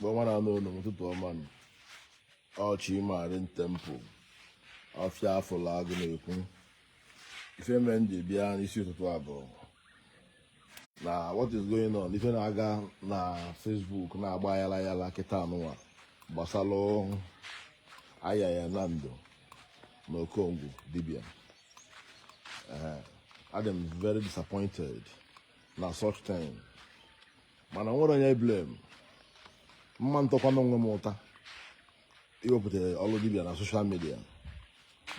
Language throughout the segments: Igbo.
Ebe ọbụna ụnụ nọ, ụtụtụ ọma nụ. Ọ Chi Marine Temple. Ọfịa afụlụ agụ na-ekwu. Ife mere m ji bịa n'isi ụtụtụ a bụ na what is going on? Ife na-aga na Facebook na-agba yala yala kịta anụwa gbasara Ayaya Nando na Okongwu Dibia. Ee, adị m very disappointed na such thing. mana nwere onye m blame ma m takwanụ onwe m ụta iwepụta ọlụ dibia na social media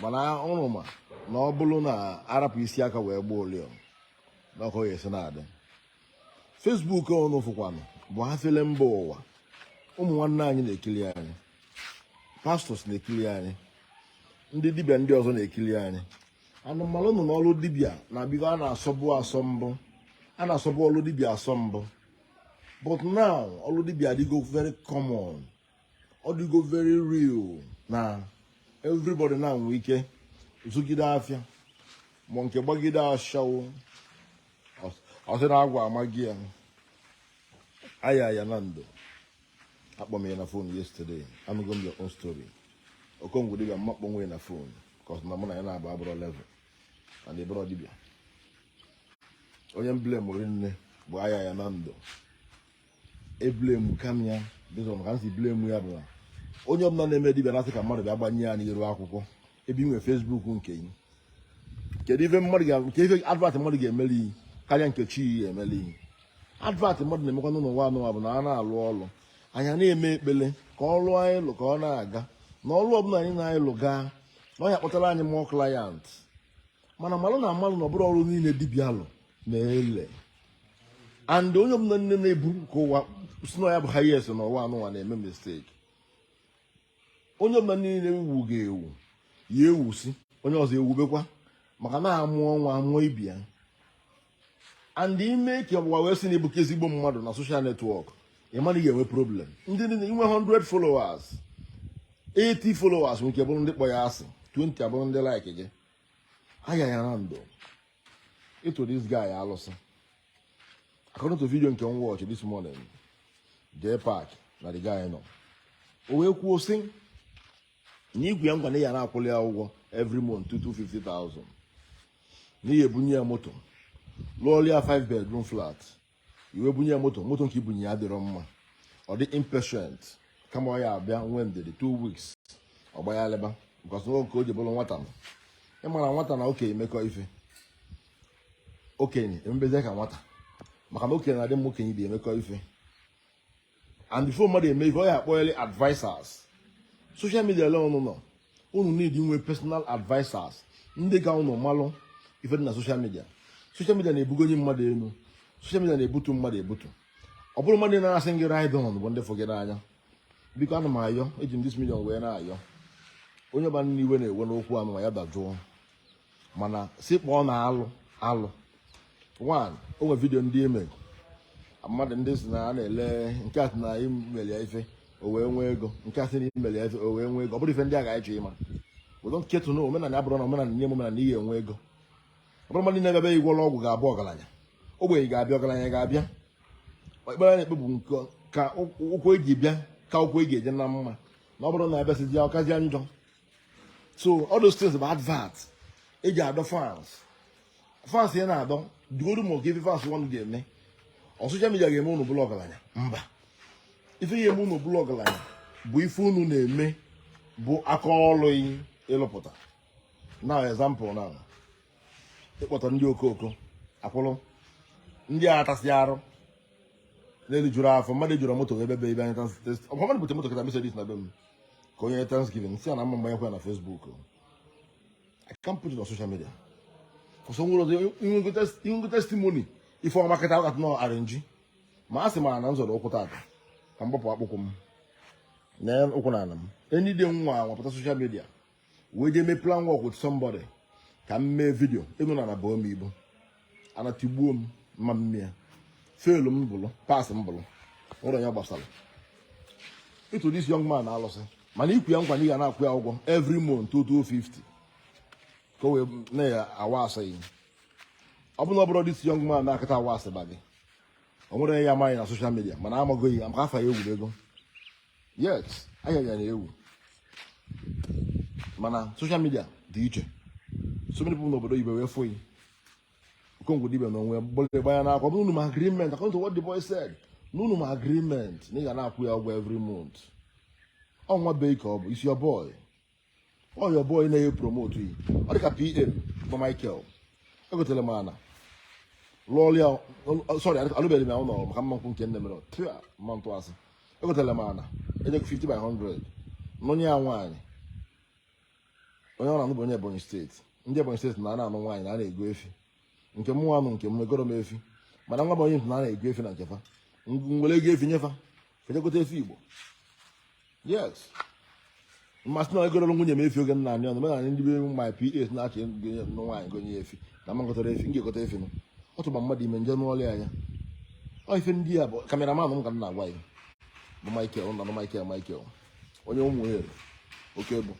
mana ụnụ ma na ọ bụrụ na arapụ isi aka wee gba ụlịọ na ọkọ ya esi na-adị Facebook ụnụ fụkwanụ bụ ha fele mba ụwa ụmụ nwanne anyị na-ekili anyị pastors na-ekili anyị ndị dibia ndị ọzọ na-ekili anyị and malụ nụ na ọlụ dibịa na bigo a na-asọbụ asọ mbụ a na-asọbụ ọlụ dibịa asọ mbụ but now ọlụ dibịa adịgo very common ọ dịgo very real na everybody now nwee ike zụgide afịa ma nke gbagide ashawo ọ sị na agwụ amago ya Ayaya Nando akpọ m ya na phone yesterday anụgo m your own story Okongwu Dibịa m ma akpọnwu ya na phone because na mụ na ya na-abụ abụrọ level and ịbụrọ dibịa onye m blame rinne bụ Ayaya Nando eblame kwa m ya reason ka m si blame ya bụ na onye ọbụla na-eme dibịa na-asị ka mmadụ bịa gbanye ya n'iru akwụkwọ ebe inwe Facebook nke gị kedu ife mmadụ ga nke ife advert mmadụ ga-emeli yi karịa nke chi yi meli yi advert mmadụ na-emekwa n'ụwa anụwa bụ na a na-alụ ọlụ anyị na-eme ekpele ka ọlụ anyị lụ ka ọ na-aga na ọlụ ọbụla anyị na-anyị lụ gaa na ọ ya-akpọtara anyị more client mana malụ na amalụ na ọ bụrọ ọlụ niile dibịa lụ na-ele and onye ọbụla niile na-ebu ka ụwa sị na ya bụ highest n'ụwa anụwa na-eme mistake onye ọbụla niile ewu ga-ewu ya ewusi onye ọzọ ewubekwa maka na a mụọ nwa a mụọ ibe ya and ime ka ụwa wee sị na ịbụka ezigbo mmadụ na social network ị ma na ị ga-enwe problem ndị inwe 100 followers 80 followers nwere ike bụrụ ndị kpọ yị asị 20 abụrụ ndị like gị Ayaya Nando ịtụ this guy alụsị according to video nke m watch this morning the part na the guy nọ o wee kwuo sị na ị gwa ya nwa na ị ya na-akwụli ya ụgwọ every month 250,000 na ị ya-ebunye ya moto lụọlụ ya 5 bedroom flat i wee bunye ya moto moto nke ibunye ya adịrọ mma ọ dị impatient kama ọ ya abịa nwee ndidi 2 weeks ọ gbaghalịba because nke o ji bụrụ nwata na ịmara nwata na okenye mekọ ife okenye emebezie ka nwata maka na okenye na-adị mma okenye bi emekọ ife and before mmadụ eme ife ọ ya akpọghịrị advisers social media alone no unu need inwe personal advisers ndị ka unu malụ ife dị na social media social media na-ebugo onye mmadụ elu social media na-ebutu mmadụ ebutu ọ bụrọ mmadụ na-asị ngị ride on bụ ndị fụ gị n'anya biko ana m ayọ eji m this medium wee na-ayọ onye ọbụna iwe na-ewe n'okwu ọnụma ya dajụọ mana si kpọọ na alụ alụ one o nwere video ndị ime mmadụ ndị si na a na-ele nke a sị na imeli ya ife o wee nwee ego nke a sị na imeli ya ife o wee nwee ego ọ bụrọ ife ndị a ga-achọ ịma we don't care to know omenala abụrụ na omenala nye omenala na ihe enwe ego ọ bụrọ mmadụ na-ebe ị gwọọlụ ọgwụ ga-abụ ọgaranya ogbenye ga-abịa ọgaranya ga-abịa ekpere na-ekpe bụ nke ka ụkwụ eji bịa ka ụkwụ eji eje na mma na ọ bụrụ na abịasịzi ọkazie njọ so all those things bụ advert eji adọ fans fans ya na-adọ duoru ma ọ ga-efe fans nwanụ ga-eme ọ social media ga-eme unu bụlụ ọgaranya mba ife ya-eme unu bụlụ ọgaranya bụ ife unu na-eme bụ aka ọlụ ị lụpụta na example na ị kpọta ndị okooko akwụrụ ndị a atasị arụ n'elu juru afọ mmadụ juru moto ebe be ibe anyị tasị ọkwa mmadụ bute moto kịta Mercedes na be m ka onye thanksgiving si ya na m ma mgbanyekwa na Facebook I can't put it on social media for some reason i nwego testimony ife ọma kịta ọkata nọ arrange ma a sị ma na nzọrọ ụkwụ tata ka m gbapụ akpụkwụ m na ụkwụ na ala m enyi dị nwa wepụta social media wee jee mee plan work with somebody ka m mee video ịnụ na na bụọ m ibu a na-etigbu m ma m mee ya fail m bụlụ pass m bụlụ nwere onye gbasara ịtụ this young man anụsị m na i kwe ya nkwa na ị ga na-akwụ ya ụgwọ every month 250 ka o wee na-ya awa asị gị ọ bụla ọ bụrụ this young man na-akịta awa asịba gị o nwere ya amaghị na social media mana amaghị ya maka afa ya ewubego yes afa ya na-ewu mana social media dị iche so many people n'obodo oyibo wee fụ yi okongwu dibịa na onwe bụrụ gbanya n'akwa bụrụ unu mee agreement according to what the boy said na unu mee agreement na ị ga na-akwụ ya ụgwọ every month ọ nwa bee ka ọ bụ he's your boy ọ your boy na-e promote yi ọ dịka PA m bụ michael egotere m ana lụọlụ ya sorry alụbeghị m ya ụlọ maka m ma nkwu nke m na-emerọ tia m ma ntụ asị egotere m ana enyekwu 50 by 100 nụnye ya nwaanyị onye ọ na-anụ bụ onye ebonyi state ndị ebonyi state na a na-anụ nwaanyị na a na-ego efi nke mụnwa nụ nke m egoro m efi mana nwa m onye ntị na ana ego efi na nke fa m were ego efi nye fa fa eje gote efi igbo yes m ma asị na egororo nwunye m efi oge nna anyị ọnụ mee na ndị be my pa na-achị nwaanyị gonye efi na mmakọtara efi m ga-egote efi m ọ tụba mmadụ ime nje n'ọlụ anya ọ ife ndị a bụ cameraman m ka m na-agwa ya bụ Michael na Michael Michael ọyị m nwoke bụ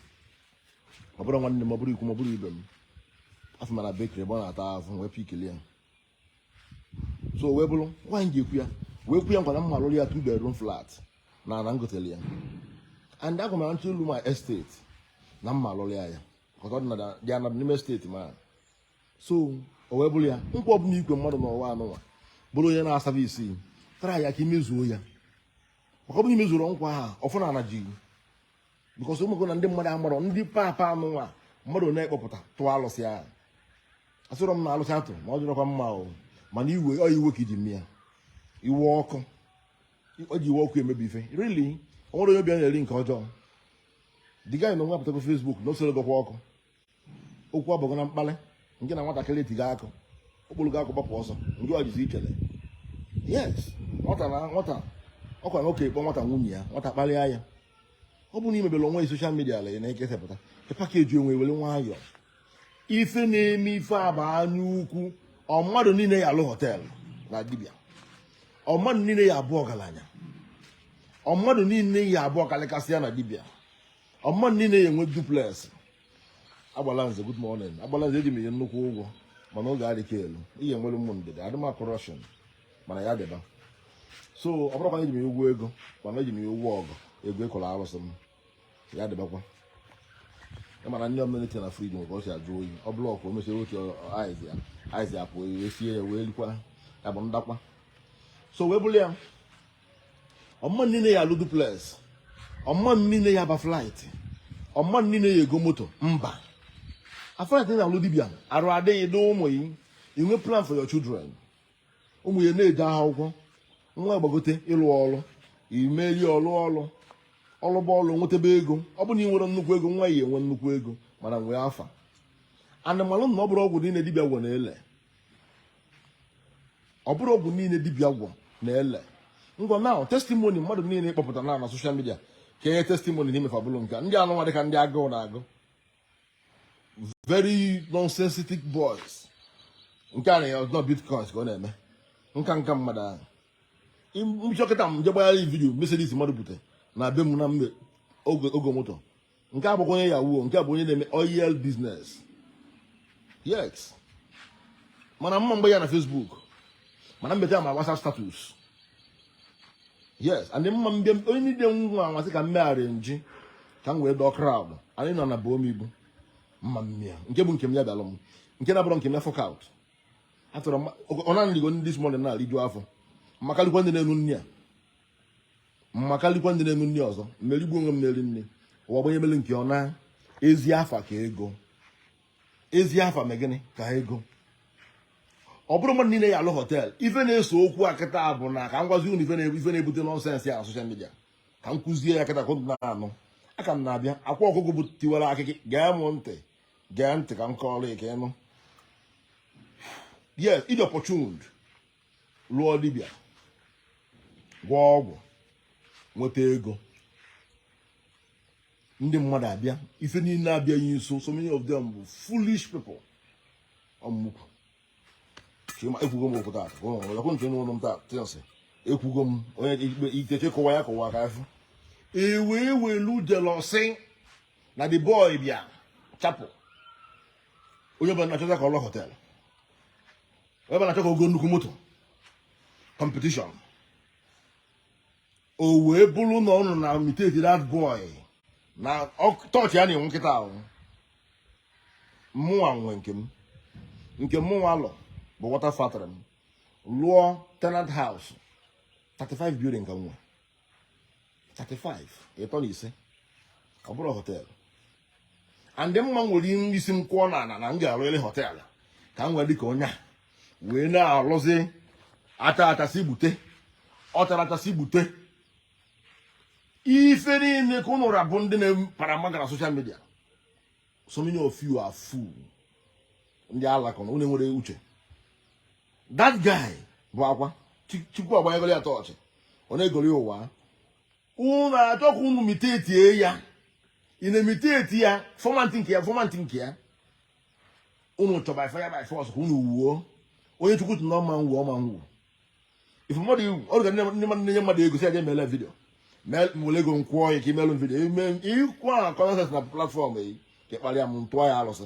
ọ bụrụ nwanne m ọ bụrụ ikwu m ọ bụrụ ibe m afụ m ya na bakery ebe ọ na-ata afụfụ wee pikili ya so wee bụrụ nwaanyị ji ekwu ya wee kwe ya nkwa na m ma alụrụ ya two bedroom flat na ana m gotele ya and agwa m na ntụ ụlọ my estate na m ma alụrụ ya ya ọtọ dị anadụ n'ime estate ma so o wee bụrụ ya nkwa ọbụla i kwe mmadụ n'ụwa anụnwa bụrụ onye na-asaba isi try ya ka i mezuo ya maka ọ bụrụ i mezurọ nkwa a ọ fụ na ana ji because ị mago na ndị mmadụ amarọ ndị papa anụnwa mmadụ na-ekpọpụta tụọ alụsị ahụ asịrọ m na alụsị atụ ma ọ dịrọkwa mma o mana iwe ọ iwe ka e ji mee ya iwe ọkụ o ji iwe ọkụ emebi ife really o nwere onye obi na-eri nke ọjọọ the guy anụnwa apụtago Facebook na o soro gọkwa ọkụ okwu abụghị na mkpali ngị na nwatakịrị tiga akụ o buru gị akụ gbapụ ọsọ ngị ejirizi ichele yes nwata na nwata ọkwa nwoke kpọ nwata nwunye ya nwata kparịa ya ọ bụrụ na i mebere onwe social media ala na-ekesapụta package onwe were nwayọọ ife na-eme ife aba anya ukwu ọ mmadụ niile ya alụ hotel na dibia ọ mmadụ niile ya abụ ọgaranya ọ mmadụ niile ya abụ ọkalịkasị ya na dibia ọ mmadụ niile ya enwe duplex Agbalanze good morning Agbalanze eji m gị nnukwu ụgwọ mana oge adịka elu ihe enwere ụmụ ndịda adịma corruption mana ya dịba so ọ bụrọkwa eji m ya ụgwọ ego mana eji m ya ụgwọ ọgwụ ego ịkọrọ arụsị m ya dịbakwa ị ma na nni ọ bụ na e tinye na fridge nwere ka o si ajụ oyi ọ block o mechaa oche ice apụ e sie ya wee likwa ya bụ ndakwa so wee bụrụ ya ọ mmadụ niile ya alụ duplex ọ mmadụ niile ya aba flight ọ mmadụ niile ya ego moto mba a flight na alụ dibia arụ adịghị dị ụmụ gị i nwee plan for your children ụmụ ya na-eje akwụkwọ nwa gbagote ịlụ ọlụ imeri ọlụ ọ lụba ọlụ nwetebe ego ọ bụ na ị nwere nnukwu ego nwa ya enwe nnukwu ego mana nwee afa a na-anụ anụ na ọ bụrụ ọgwụ niile dibia gwọ na-ele ọ bụrụ ọgwụ niile dibia gwọ na-ele ngwa na testimony mmadụ niile na-ekpọpụta na social media ka e nye testimony n'ime fa abụlụ nke ndị anụnwa dịka ndị agụụ na-agụ very nonsensitic boys nke a na-asị na ọ bitcoins ka ọ na-eme nka nka mmadụ ahụ m chọ kịta m je gbaa video Mercedes mmadụ bute na be m na m egogo moto nke a bụkwa onye yahoo nke a bụ onye na-eme oil business yes mana mma mgbe ya na Facebook mana mbete ma WhatsApp status yes and m ma abịa online nwa anwansị ka m mee arrangee ka m wee dọọ crowd anyị nọ na bụ omigbu mma mmịa nke bụ nke m ya bịalụ m nke na-abụrọ nke m ya fuck out atụrụ ọ na unu erigo nri this morning na-eriju afọ ma kalịkwa ndị na-enu nni a ma karịkwa ndị na-enu nri ọzọ m erigbu onwe m eri nri ụwa gbanye mere nke ọ na ezi afa ka ego ezi afa mee gịnị ka ego ọ bụrọ mmadụ niile ya-alụ hotel ife na-ese okwu a kịta bụ na ka m gwazi unu ife na-ebute nonsense a na social media ka m kụzie ya kịta ka unu na-anụ aka m na-abịa akwa ọkụkọ bụ tiwara akị gee m ntị gee ntị ka m kọọrọ ya ka ị nụ yes ị dị opportuned lụọ dibịa gwọọ ọgwụ nweta ego ndị mmadụ abịa ife niile abịa ya nso so many of them bụ foolish people ọmụmụkwu chima ekwugo m okwu taata ọkwụ nche n'ụlọ m taa tịnsị ekwugo m onye ikpe ikeche kọwa ya kọwa ka afọ e wee welu jealousy na the boy bịa chapụ onye ọbụla na-achọta ka ọ lụọ hotel onye ọbụla na-achọ ka o goo nnukwu moto competition o wee bụrụ na unu na-imitate that boy na ọ- torch ya na-enwu kịta ahụ mụnwa nwe nke m nke mụnwa lụ bụ water factory m lụọ tenant house 35 building ka m nwe 35 ịtọ na ise ọ bụrọ hotel and m ma ewere isi m kụọ n'ala na m ga-arụrị hotel ka m were dịka onye a wee na-arụzi ata atasị gbute ọ tara atasị gbute ife niile ka unu ra bụ ndị na-apara mma gara social media so many of you are fool ndị ala ka ọ na unu enwerọ uche that guy bụ akwa chukwu agbanyegoro ya torch ọ na-egori ụwa unu achọ ka unu imitatie ya ị na-imitate ya format nke ya format nke ya unu chọ by fire by force ka unu nwuo onye chukwu sị na ọ ma nwuo ọ ma nwuo ife mmadụ iwu ọ ga ndị mmadụ na-enye mmadụ ego sị a ja emela video were ego kwụọ ya ka i melu video i kwuo nonsense na platform yi ka ị kparịa m tụọ ya alụsị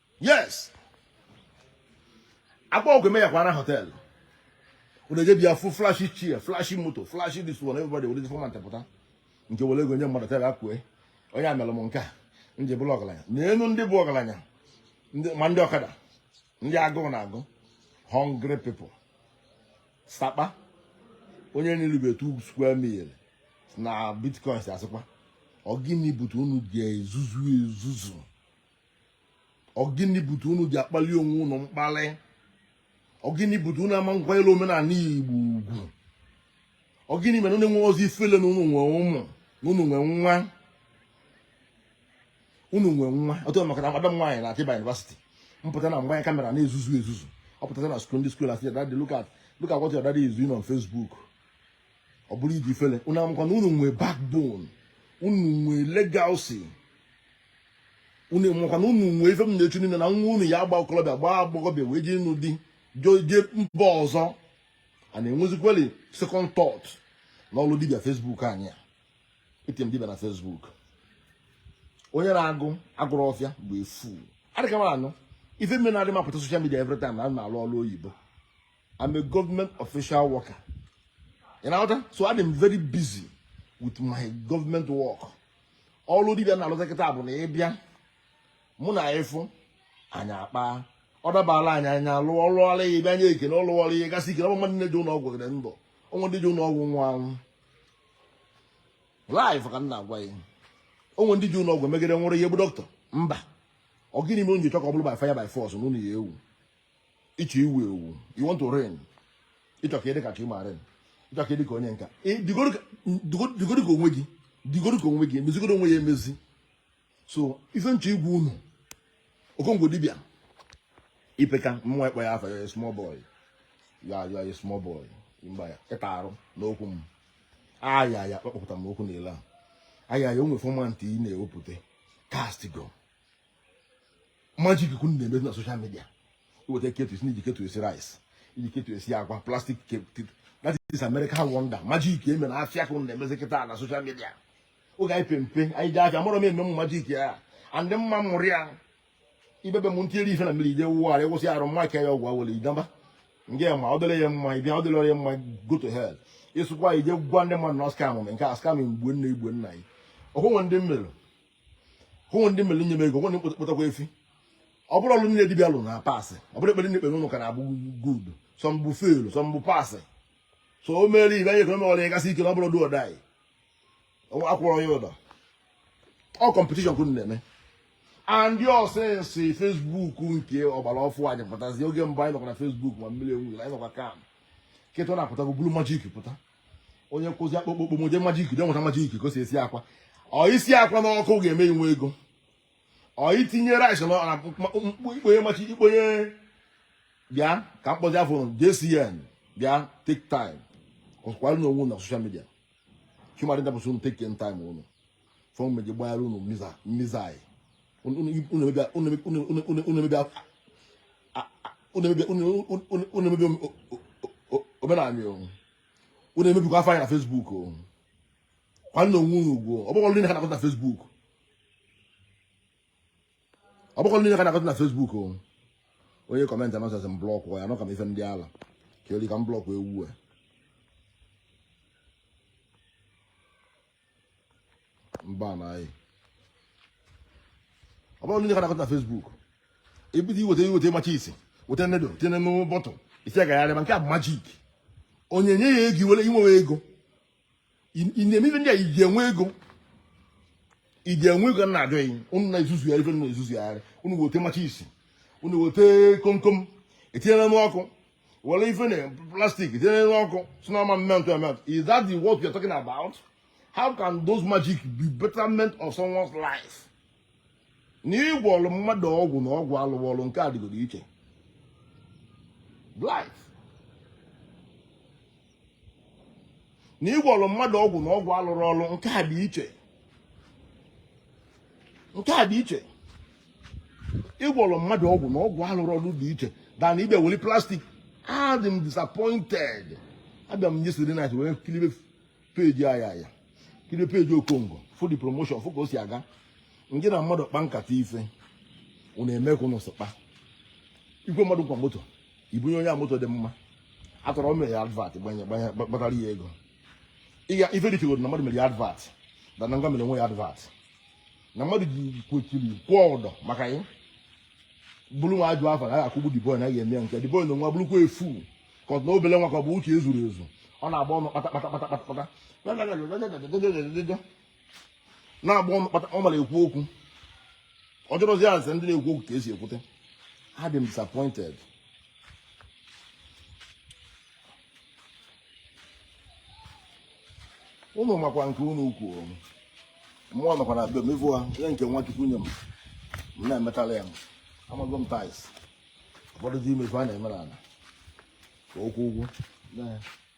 yes akpa ọgwụ eme ya kwara hotel ụna eje bịa fụ flashy chair flashy motor flashy this one everybody were format pụta nke were ego nye mmadụ tere akwue onye a mere m nke a m ji bụrụ ọgaranya nenụ ndị bụ ọgaranya ndị- ma ndị ọkada ndị agụụ na-agụ hungry people sapa onye na-eribe two square meal na bitcoins asịkwa ọ gịnị bute unu ji ezuzu ezuzu ọgịnị bute unu ji akpali onwe unu mkpali ọgịnị bute unu ama akwanyere omenala igbo ugwu ọgịnị mere unu enwerọzi ifele na unu nwe ụmụ na unu nwe nwa unu nwe nwa ọtụ maka na madam nwaanyị na Atiba University m pụta na m gbanye camera na-ezuzu ezuzu ọ pụtara na school ndị school asị daddy look at look at what your daddy is doing on Facebook ọ bụrụ iji ifele unu amakwa na unu nwe backbone unu nwe legacy unu enwekwa na unu nwee ife m na-echu niile na nwa unu ya-agba okorobịa gbaa agbọghọbịa wee jee ịnụ di jee mba ọzọ a na-enwezikweli second thought na ọlụ dibịa Facebook anyị a etinye m dibịa na Facebook onye na-agụ agụrụ ọfịa bụ efu adịka m anụ ife mere na adị m apụta social media every time na a na m alụ ọlụ oyibo I'm a government official worker. You know what? So I'm very busy with my government work. ọlụ dibịa m na-alụ kịta bụ na ị bịa mụ na gị fụ anyị akpa ọ dabara anyị anyị alụ ọrụ ọrụ ya bịa nye ekele ọrụ ọrụ ya gasị ikele ọgbama ndị je ụlọ ọgwụ dịrị ndụ o nwe ndị je ụlọ ọgwụ nwa anwụ life ka m na-agwa gị o nwe ndị je ụlọ ọgwụ megide nwụrụ ya bụ doctor mba ọ gịnị mere unu chọ ka ọ bụrụ by fire by force na unu ya-ewu ị chọ iwu ewu you want to reign ị chọ ka ị dị ka Chi Marine ị chọ ka ị dị ka onye nke a dịgodu ka onwe gị dịgodu ka onwe gị mezigodu onwe gị emezi so ife m chọ ịgwa unu Okongwu dibịa ị peka mụwa ịkpọ gị afa you are a small boy you are a small boy mba ya ịta arụ n'okwu m ayaya kpọpụta m okwu n'ile a ayaya o nwe format ị na-ewepụta castigo magic ka unu na-emezi na social media i weta kettle ị sị na i ji kettle esi rice i ji kettle esi agwa plastic that is American wonder magic e me na afịa ka unu na-emezi kịta na social media oge anyị pe mpe anyị je afịa mụrụ m eme m magic a andị mma mụrụ ya ibebe m ntiri ife na mmiri i jee wụọ arụ ị wụsị arụ mma ka ya ọgwụ awele ị naba nke ma ọ dịrị gị mma ị bịa ọ dịrọ gị mma go to hell ịsụkwa i jee gwa ndị mmadụ na ọ scam amụmị nke a scam mgbe nna igwe nna anyị ọkwụnwe ndị mmiri hụ ndị mere nye m ego nwere mkpọtakwa efi ọ bụrọ ọrụ niile dibịa lụrụ na-apass ọ bụrọ ekpere ndị ekpere ụnụ ka na-abụ good some bụ fail some bụ pass so o mere ibe anyị ekwe ọrụ ya gasị ike na ọ bụrọ do or die anyị akwụrọ ya ụdọ ọ competition ka unu na-eme and since Facebook nke ọgbara ọfụ anyị pụtazi oge mbụ anyị nọkwa na Facebook ma mmiri enwughị anyị nọkwa kam kịta unu apụtago bulu magic pụta onye kọzie akpụkpọ ụkwụ moje magic ikuku enweta magic ikuku ka o si esi akwa ọ isi akwa n'ọkụ ga-eme inwe ego ọ itinye rice na na mkpụ- mkpụ ikponye matches ikponye bịa ka m kpọzie afa unu jcn bịa take time ọkwara na onwe unu na social media chimari ndapụsị unu take your time unu fọm meji gbara unu missile unu emebi omenala unu emebikwa afa anyị na Facebook kwanyere onwe unu ugwu ọ bụkwa niile ka na-akọta na Facebook ọ bụkwa niile ka na-akọta na Facebook onye comment nonsense m block ya nọ ka m ife ndị ala ka eri ka m block ewu a mba na anyị ọ bụrụ ndị na-akọta na Facebook ebido iweta iweta matches weta needle tinye n'ụmụ bottle isi agagharị ma nke a bụ magic onye nye ya ego iwere inwewe ego ị na-eme ife ndị a iji enwe ego iji enwe ego na adịghị unu na-ezuzu ya ife na-ezuzu ya unu weta matches unu weta komkom etinyere n'ọkụ were ife na plastic tinye n'elu ọkụ sị na ọ ma melt emelt is that the work you're talking about how can those magic be betterment of someone's life na ịgwọrọ mmadụ ọgwụ na ọgwụ alụrụ ọrụ nke a dịgoro iche life na ịgwọrọ mmadụ ọgwụ na ọgwụ alụrụ ọrụ nke a dị iche nke a dị iche ịgwọrọ mmadụ ọgwụ na ọgwụ alụrụ ọrụ dị iche than ịbịa weli plastik adị m disappointed abịa m yesterday night wee kiribe page ayaya kiribe page okongo fụ the promotion fụ ka o si aga nke na mmadụ kpa nkata ife unu eme ka unu sịkpa ikwe mmadụ nkwa moto ibunye onye a moto dị mma after all mere ya advert gbatara ya ego ịga ife dịtegoro na mmadụ mere ya advert than na ngwa mere onwe ya advert na mmadụ ji kwechiri kwụọ ụdọ maka ya bụrụ nwa ajụ afọ na ya akwụgbu the boy na ya eme ya nke the boy na nwa bụrụkwa efu ka ọ na obele nwa ka ọ bụ uche ezurọ ezu ọ na-agba ọnụ kpata kpata kpata kpata kpata na-agba ọ mara ekwu okwu ọ jụrụzi ya ase ndị na-ekwu okwu ka esi ekwute adị m disappointed unu makwa nke nnukwu mmụọ nọkwa na be m ịfụ ha ihe nke nwa chukwu nye m m na-emetala ya m amago m tais ụfọdụ dị imefu a na-eme n'ala ka ọ kwụọ ụgwọ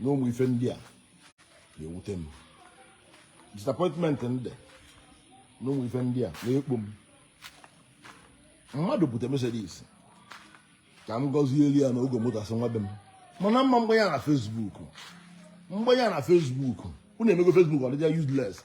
na ụmụ ife ndị a na-ewute m disappointment ndị na ụmụ ife ndị a na-ekpo m mmadụ bute Mercedes ka m gọzielụ ya na o go moto asị nwa be m mana m ma mgbanye na Facebook m gbanye na Facebook unu emego Facebook ọ dịzia useless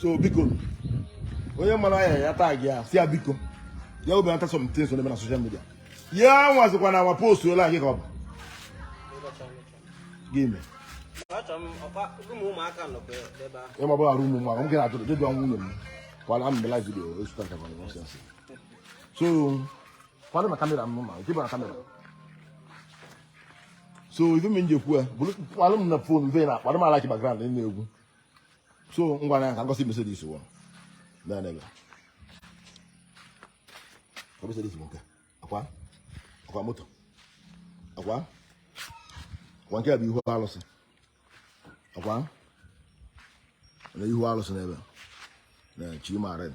so biko onye mara ya ya tag ya sị ya biko ya obi ata some things ọ na-eme na social media ya nwazikwa na awa post ole anyị ka ọ bụ gị ime ịma bụ arụ ụmụ mmadụ m gị na-ajụ ajụjụ ọnwụ nwunye m kwala m live video esụta nka kwana nonsense so kwado na kamera m ma nke bụ na kamera so ife m ji ekwu ya bụrụ kwalụ m na phone ife na akpara m I like background ị na-egwu so ngwa na ya ka m gosi Mercedes wọ na na ebe ka Mercedes bụ nke akwa akwa moto akwa akwa nke a bụ ihu alụsị akwa na ihu alụsị n'ebe na chima red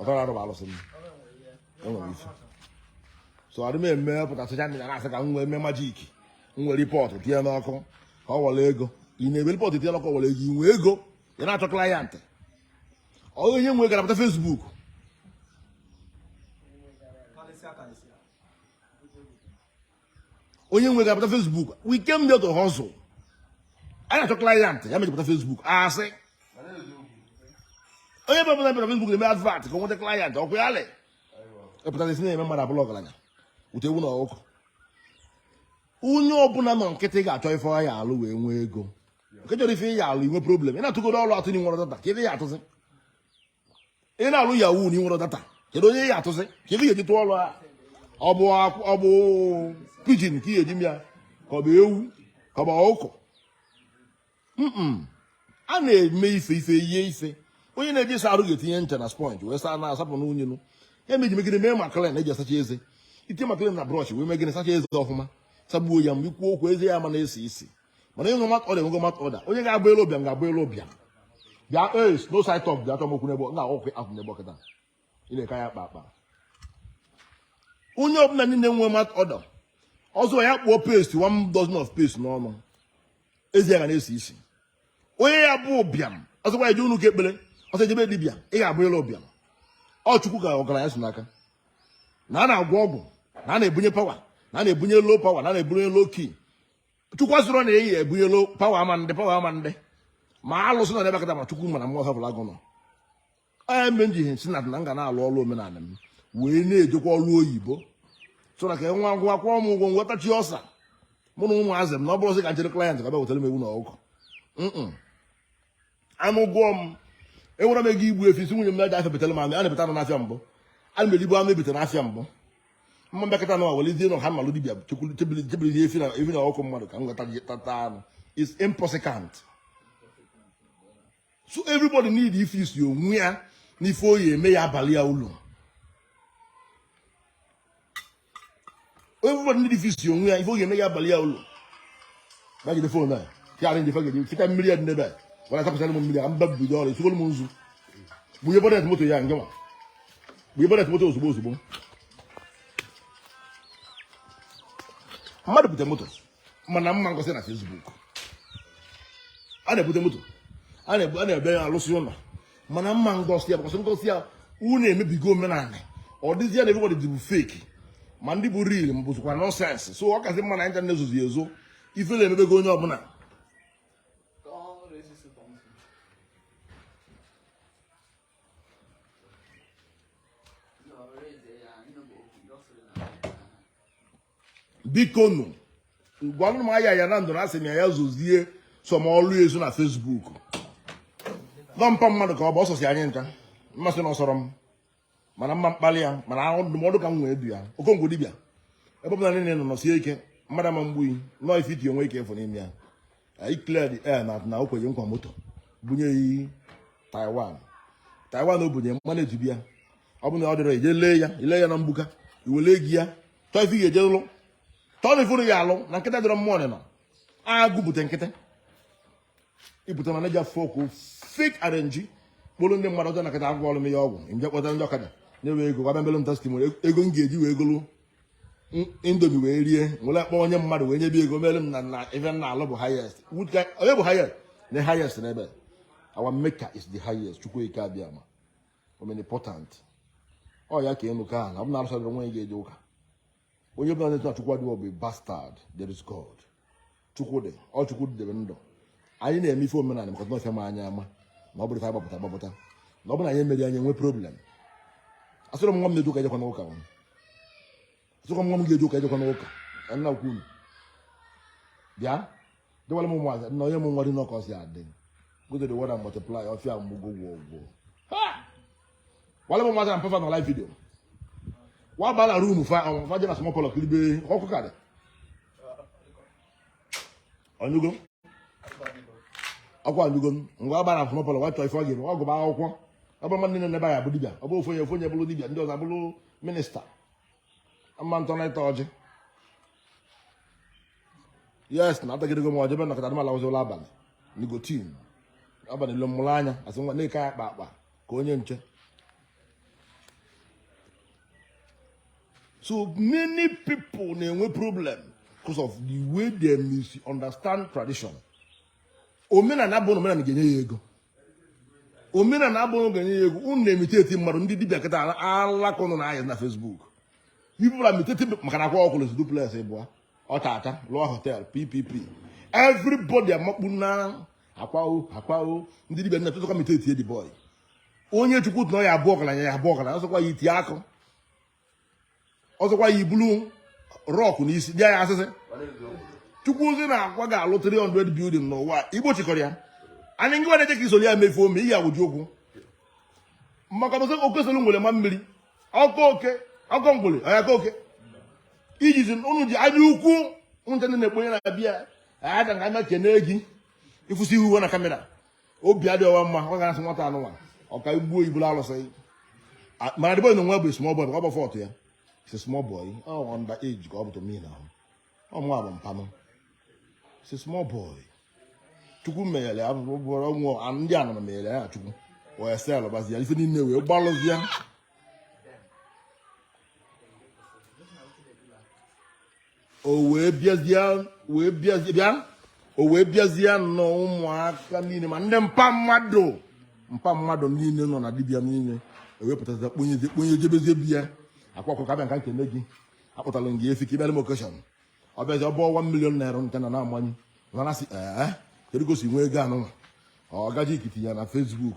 ọtara arụ bụ alụsị m enwere ife so adị m eme pụta social media na-asị ka m wee mee magic m were pot tinye n'ọkụ ka ọ were ego ị na-ewere pot tinye n'ọkụ were ego ị nwee ego ị na-achọ client ọghị onye nwe ga-apụta Facebook onye nwe ga-apụta Facebook we came there to hustle a na-achọ client ya mee e ji pụta Facebook asị onye bụla bịara Facebook na-eme advert ka ọ nweta client okay a lee epụtara isi na-eme mmadụ abụlụ ọgaranya wete ewu na ọkụkọ onye ọbụla nọ nkịtị ga-achọ ife ọ ya-alụ wee nwee ego nke chọrọ ife ọ ya-alụ nwee problem ị na-atụgoro ọrụ atụ na ị nwerọ data kee ife ị ya-atụzi ị na-alụ yahoo na ị nwerọ data kedu onye ị ya-atụzi ka ị ga-eji tụọ ọrụ a ọ bụ akwụ- ọ bụ pigeon ka ị ga-eji mee ya ka ọ bụ ewu ka ọ bụ ọkụkọ Mm-mm. a na-eme ife ife eyie ife onye na-eje ịsa arụ ga-etinye ncha na sponge wee saa na-asapụ unyi nọ ya mee e ji megide mee Maclean eji asacha eze ị tinye Maclean na brush wee megide sacha eze ọfụma sagbuo ya mgbe ị kwuo okwu eze ya ama na-esi isi mana ịnwe mouth odour enwego mouth odour onye ga-abụlụ ụbịam ga-abụlụ ụbịam there's no side talk bịa chọọ m okwu n'ebe na ọkụ ahụ n'ebe ọkịta ị na-eke ya akpa akpa onye ọbụla niile nwe mouth odour ọ sọ ya kpụọ paste one dozen of paste n'ọnụ eze ya ga na-esi isi onye ya bụ ụbịam ọ sọkwa ya je ụnọ ụka ekpere ọ sọ ya jebe dibịa ị ga-abụlụ ụbịam ọ chukwu ka ọgaranya si n'aka na a na-agwọ ọgwụ na a na-ebunye power na a na-ebunye low power na a na-ebunye low key chukwu sịrị na eyi ebunye low power ama ndị power ama ndị ma alụsị nọ n'ebe kata ma chukwu mana mmụọ hafụrụ agụ nọ onye mgbe m ji ihe nsi na na m ga na-alụ ọrụ omenala m wee na-ejekwa ọrụ oyibo so na ka ọnwa gwụ a kwụọ m ụgwọ nwetachi ọsa mụ na ụmụazị m na ọ bụrọzi ka m chere client ka bịa wetara m ewu na ọkụ anụ gụọ m enwere m ego igbu efi sị nwunye m na-eje afịa betara m anụ a na-ebeta anụ n'afịa mbụ ana m eribu anụ ebeta n'afịa mbụ mma mbịakọta anụ a welizie nọ ha malụ dibia chebirizie efi na efi na ọkụ mmadụ ka m gata tata anụ is impossible so everybody need ịfix onwe ya n'ife ọ ya-eme ya abalụ ya ulu everybody need ịfix onwe ya ife ọ ya-eme ya abalụ ya ulu bagide phone a ya arrange ife ga-eji fita mmiri ya dị n'ebe a gwara tapụsara m mmiri a mba bido ọrụ esigoro m nzu gbunye bonnet moto ya nke ma gbunye bonnet moto ozugbo ozugbo mmadụ bute moto mana mma ngosi ya na Facebook a na-ebute moto a na-ebe ya alụsị ụlọ mana mma ngosi ya because ngosi ya unu emebigo omenala ọ dịzi ya na everybody bụ fake ma ndị bụ real ma bụzikwa nonsense so ọ kasị mma na internet ezozie ezo ifele emebego onye ọbụla bikonu gwalụnụ m Ayaya Nando na asị m ya ya zozie some ọlụ ya ezo na Facebook na mpa mmadụ ka ọ bụ ọ sọsị anyị ncha m ma sị na ọ sọrọ m mana mma mkpali ya mana ọ ndụmọdụ ka m wee du ya Okongwu dibịa ebe ọ bụla niile nọ nọsie ike mmadụ ama mgbu nọọ ifiti onwe ike ịfụ n'ime ya anyị clear the air na na okwenye nkwa moto bunye ya taiwan taiwan o bunye man a dibịa ọ bụ na ọ dịrọ ije lee ya ile ya na mgbuka iwele ego ya chọọ ife ga-eje lụ chọọ na ifuru ya alụ na nkịta dịrọ mmụọ nịnọ agụ bute nkịta ibute mana ji afọ okwu fake arrange kpụrụ ndị mmadụ ọjọọ na nkịta agwọrọ m ya ọgwụ m je kpọta ndị ọkada nyewe ego ngwa bịa melụ m testimony ego m ga-eji wee golu indomie wee rie nwere akpọ onye mmadụ wee nyebe ego mere m na na ebe m na-alụ bụ highest onye bụ highest na highest n'ebe our maker is the highest chukwu okike abịama omnipotent ọ ya ka ịnụ ka ahụ na ọ bụ na-arụsa gị onwe gị eje ụka onye bụla na-eche na chukwu adịghị ọ bụ bastard there is God chukwu dị ọ chukwu dị debe ndụ anyị na-eme ife omenala maka ọfịa ma anyị ama na ọ bụrụ ife agbapụta agbapụta na ọ bụrụ anyị emerọ anyị enwe problem asịrọ m nwa m na-eje ụka ejekwana ụka asịkwa m nwa m ga-eje ụka ejekwana ụka nna ukwu unu bịa dịwara m ụmụazị na onye m nwa dị n'ọkọ si adị go to the world and multiply ọfịa mgbugo gwọ gwọ wale m ụmụazị na mpa fa na live video wa baa na room fa fa jee na small parlour kiribe ọkụ karị ọnyụgo ọkụ anyụgo ngwa agbara akwụna parlour wa chọọ ife ọ ga-eme ọ gụba akwụkwọ ọ bụrọ mmadụ niine na be ya bụ dibia ọ bụ ofu onye ofu onye bụrụ dibia ndị ọzọ abụrụ minister ama ntọ na ịta ọjị yes na atagidego m ọjị be nakọta adịmala ụzọ ụlọ abalị nicotine abalị lo mụrụ anya asị nwa na-eke ya akpa akpa ka onye nche So many people na-enwe problem because of the way they misunderstand tradition. Omenala bụ na omenala ga-enye ya ego. Omenala abụrọ ga-enye ya ego. Unu na-imitate mmadụ ndị dibịa kịta alaka ụnụ na-aya na Facebook. People are imitating maka na Akwa Ọkụkọ lụsị duplex ịbụa ọtata lụọ hotel ppp everybody amakpu na akwawo akwawo ndị dibịa na-atụtụkwa imitate the boy onye chukwu tụ na ya-abụ ọgaranya ya-abụ ọgaranya ọ sọkwa ya iti akụ ọ sọkwa ya ibulu rock n'isi bịa ya asịsị chukwu sị na Akwa ga-alụ 300 building n'ụwa igbo chịkọrọ ya anyị ngị na-eche ka i soro ya mefu ome ị ya-awụji ụkwụ maka ọ bụ sị oke soro ngwere maa mmiri ọ kọọ oke ọ kọọ ngwere ọ ya-akọ oke ijizi unu ji anya ukwu unu ndị na-ekponye na bịa aga ka anya kene gị ịfụsị ihu na camera obi adịghị ọwa mma ọ ga-asị nwata anụnwa ọka igbuo iburu alụsị mana the boy na nwa bụ small boy ọ bụ forty years small boy under age ka ọ bụ to me now ọ mụ abụ mpa unu is a small boy chukwu menyere ya bụrụ ọnwụ ndị a nọ menyere ya chukwu wee sel gbazi ya ife niile wee gbalụzi ya o wee bịazie wee bịazie bịa o wee bịazie nọ ụmụaka niile ma ndị mpa mmadụ mpa mmadụ niile nọ na dibịa niile ewepụtazi kponyezie kponye jebezie be ya Akwa Ọkụkọ abịa m ka m kene gị akpụtara gị efi ka ị bịara m occasion ọ bịazi ọ bụ one million naira nke na na-amanye a na-asị ee kedu ka o si nwee ego anụnwa ọ gaji ikiti ya na Facebook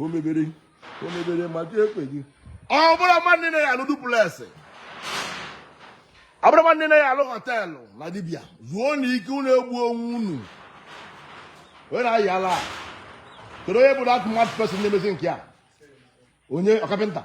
o mebere o mebere ma chi ekweghị ọ bụrọ mmadụ niine ya-alụ duplex ọ bụrọ mmadụ niine ya-alụ hotel na dibịa zuonụ ike unu egbu onwe unu onye na-ayị ala a kedu onye bụ that mad person na-emezi nke a onye ọ carpenter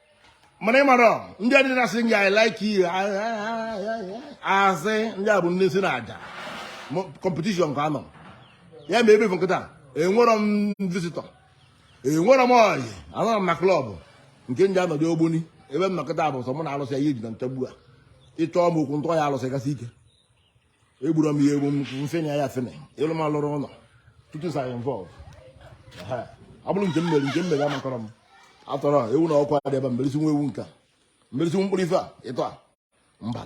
mana ị mara ndị adị na-asị gị I like you asị ndị a bụ ndị si na aja competition ka anọ ya ma ebe m nọ kịta enwerọ m visitor enwerọ m ọyị anọrọ m na club nke ndị anọdụ ogboni ebe m nọ kịta bụ sọ mụ na alụsị ya iji na ntagbu a ịchọọ m okwu ntọ ya alụsị kasị ike egburu m ya egbu m mfenye ya fene ịlụ m alụrụ ụlọ tutu sa involve ọ bụrụ nke m mere nke m mere amakọrọ m atụrụ ewu na ọkụ adị ebe m bere isi nwa ewu nka m bere isi nwa mkpụrụ ife a ịtọ a mba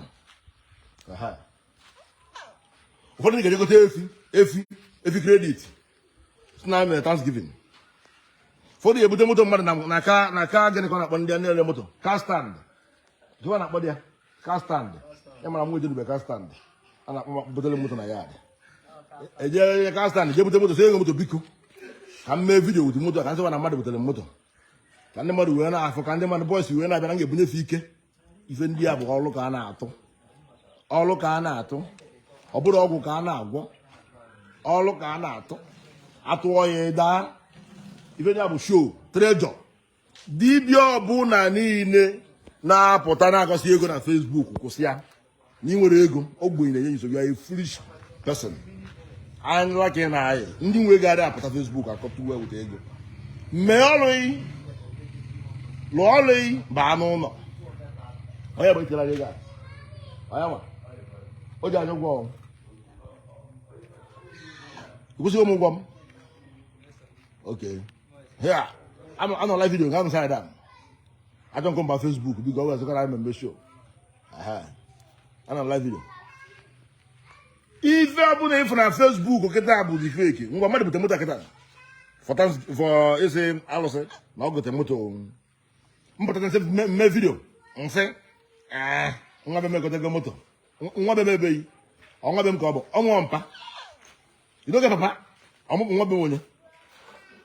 ụfọdụ ndị ga-eje gote efi efi efi credit si na mere thanksgiving ụfọdụ ebute moto mmadụ na aka na aka gịnị ka ọ na-akpọ ndị a na-ere moto car stand jụwa na-akpọ dị ya car stand ị mara nwa ejerube car stand a na-akpọ m butere moto na yard ejere car stand jee bute moto sị onye nwe moto biko ka m mee video with moto ka m sịwa na mmadụ butere moto ka ndị mmadụ wee na-afụ ka ndị mmadụ bu ọsọ wee na-abịa na m ga-ebunye fa ike ife ndị a bụ ọlụ ka a na-atụ ọlụ ka a na-atụ ọ bụrọ ọgwụ ka a na-agwọ ọlụ ka a na-atụ atụọ ya daa ife ndị a bụ show treasure dibịa ọbụla niile na-apụta na-agosi ego na Facebook kwụsị ya na ị nwere ego ogbenye na-enye nsogbu you are a foolish person anyịla ka ị na anyị ndị nwe ego adịghị apụta Facebook akọta uwe weta ego mee ọlụ gị lụọ ọlụ gị baa n'ụlọ onye bụ ikere ego a onye ma o ji anya ụgwọ ọnwụ kwụsịghị m ụgwọ m okay ya anọ live video ga anụsa ya ajọ nkọ mba Facebook biko ọ ga-ezekọrọ anyị mmemme show anọ live video ife ọbụla ị fụ na Facebook kịta bụ dị fake ngwa mmadụ bute moto kịta fọta fọ ịsị alụsị na ọ gote moto mpụta nsị m mee video nsị ah, nwa be m egotego moto nwa be m be gị ọ nwa be m ka ọ bụ ọ nwa mpa idoge papa ọmụpụ nwa be onye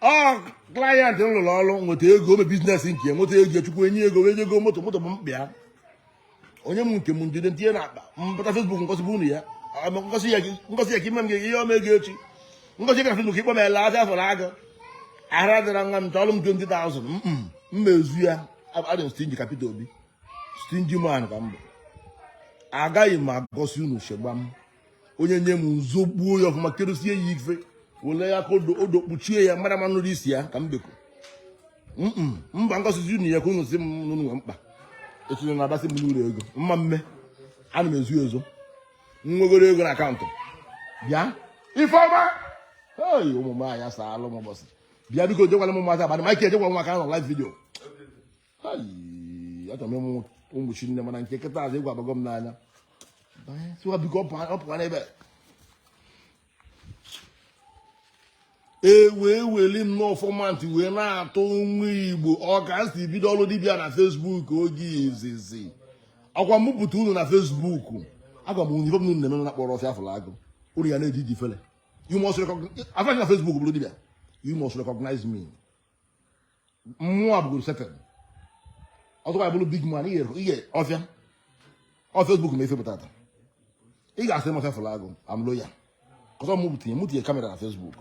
ọ client m lụrụ ọrụ nweta ego o mee business nke ya nweta ego chukwu enye ego wee jee go moto moto bụ mkpa ya o nye m nke m njide ntinye na akpa mpụta Facebook ngosibe unu ya ama ngosi ya gị- ngosi ya ka ime m gị ihe ọma ego echi ngosi ya ka Facebook ị kpọọ m ele afịa afọrọ agụ ara dịra nwa m chọrọ m 20,000 mm, m mezu ya adị m stingy ka Peter Obi stingy man ka m bụ agaghị m agosi unu shegbam onye nye m nzogbuo ya ọfụma kedosie ya ife wele aka odo kpuchie ya mara ma nụrụ isi ya ka m beko mba ngosizi unu ya ka unu sị m na unu nwe mkpa etinye na abasị m n'ụlọ ego mma mme ana m ezo ezo nwegoro ego na account bịa ifeọma ei ụmụ m anya saalụ m ụbọchị bịa biko jekwala m mmadụ abalị ma ike ejekwa m maka anọ live video achọrọ m ịmụ ụmụ chi nne mana nke kịta azụ egwu abago m n'anya tiwa biko ọ pụwa n'ebe e wee weli m n'ọfọmantị wee na-atụ nwa Igbo ọ ka m si bido ọrụ dibịa na Facebook oge izizi ọkwa m bupụta unu na Facebook agwa m ihe unu na-eme na akpọrọ ọfịa fụrụ agụ unu ya na-eji ji fele you must recognize afọ na Facebook bụrụ dibịa you must recognize me mụwa abụgoro settle ọzọkwa bụrụ big man ihe ọfịa Facebook ma e fepụta taa ị ga-asị m ọfịa fụrụ agụ am loyal cos ọ mụ tinye kamera na Facebook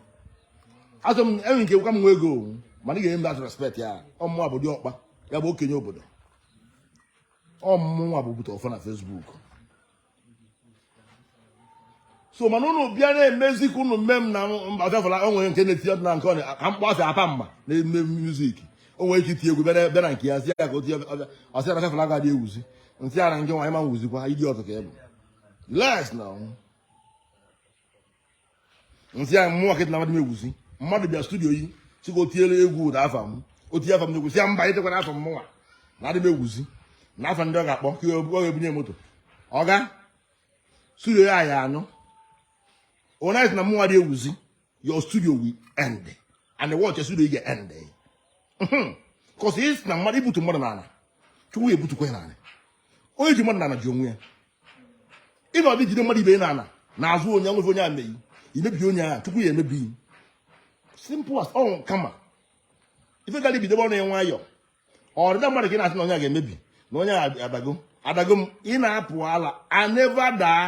asị m e nwee ike ịka m nwee ego mana ị ga-enye m that respect na ọ mụwa bụ diọkpa ya bụ okenye obodo ọ mụnwa bụ bute ọfọ na Facebook so mana ụnụ bịa na-emezi ka ụnụ mme m na mba ọfịa fụrụ agụ o nwere nke na-eti ọdịna nke a na-akpọ sị Apama na-eme music o nwere ike iti egwu bịa na- bịa na nke ya sị ya ka o tie ọ sị na ọfịa fụrụ agụ adị ewuzi m sị ya na nke nwaanyị ma nwuzikwa ịdị ọtụ ka ị bụ les na ọnwụ m sị ya mụwa ka ị sị na mụ adị m ewuzi mmadụ bịa studio gị sị ka o tiere egwu ụda afa m o tinye afa m n'egwu ị sị ya mba etikwana afa m mụnwa na adị m ewuzi na afa ndị ọ ga-akpọ ka ọ ga-ebunye moto ọga studio ya ya anụ onye na mụwa adị ewuzi your studio will end and the watch studio ga end cos ị sị na mmadụ ibutu mmadụ n'ala chukwu ya ebutukwa ya n'ala onye ji mmadụ n'ana ji onwe ya ị nọdụ jide mmadụ ibe n'ana na-azụ onye anwụfe onye ameghị imebi onye ahụ chukwu ya emebi simple as ọ ka mma ife gara ibidobe ọrụ ya nwayọ ọdịda mmadụ ka ị na-asị na onye a ga-emebi na onye a adago adago m ị na-apụ ala I never daa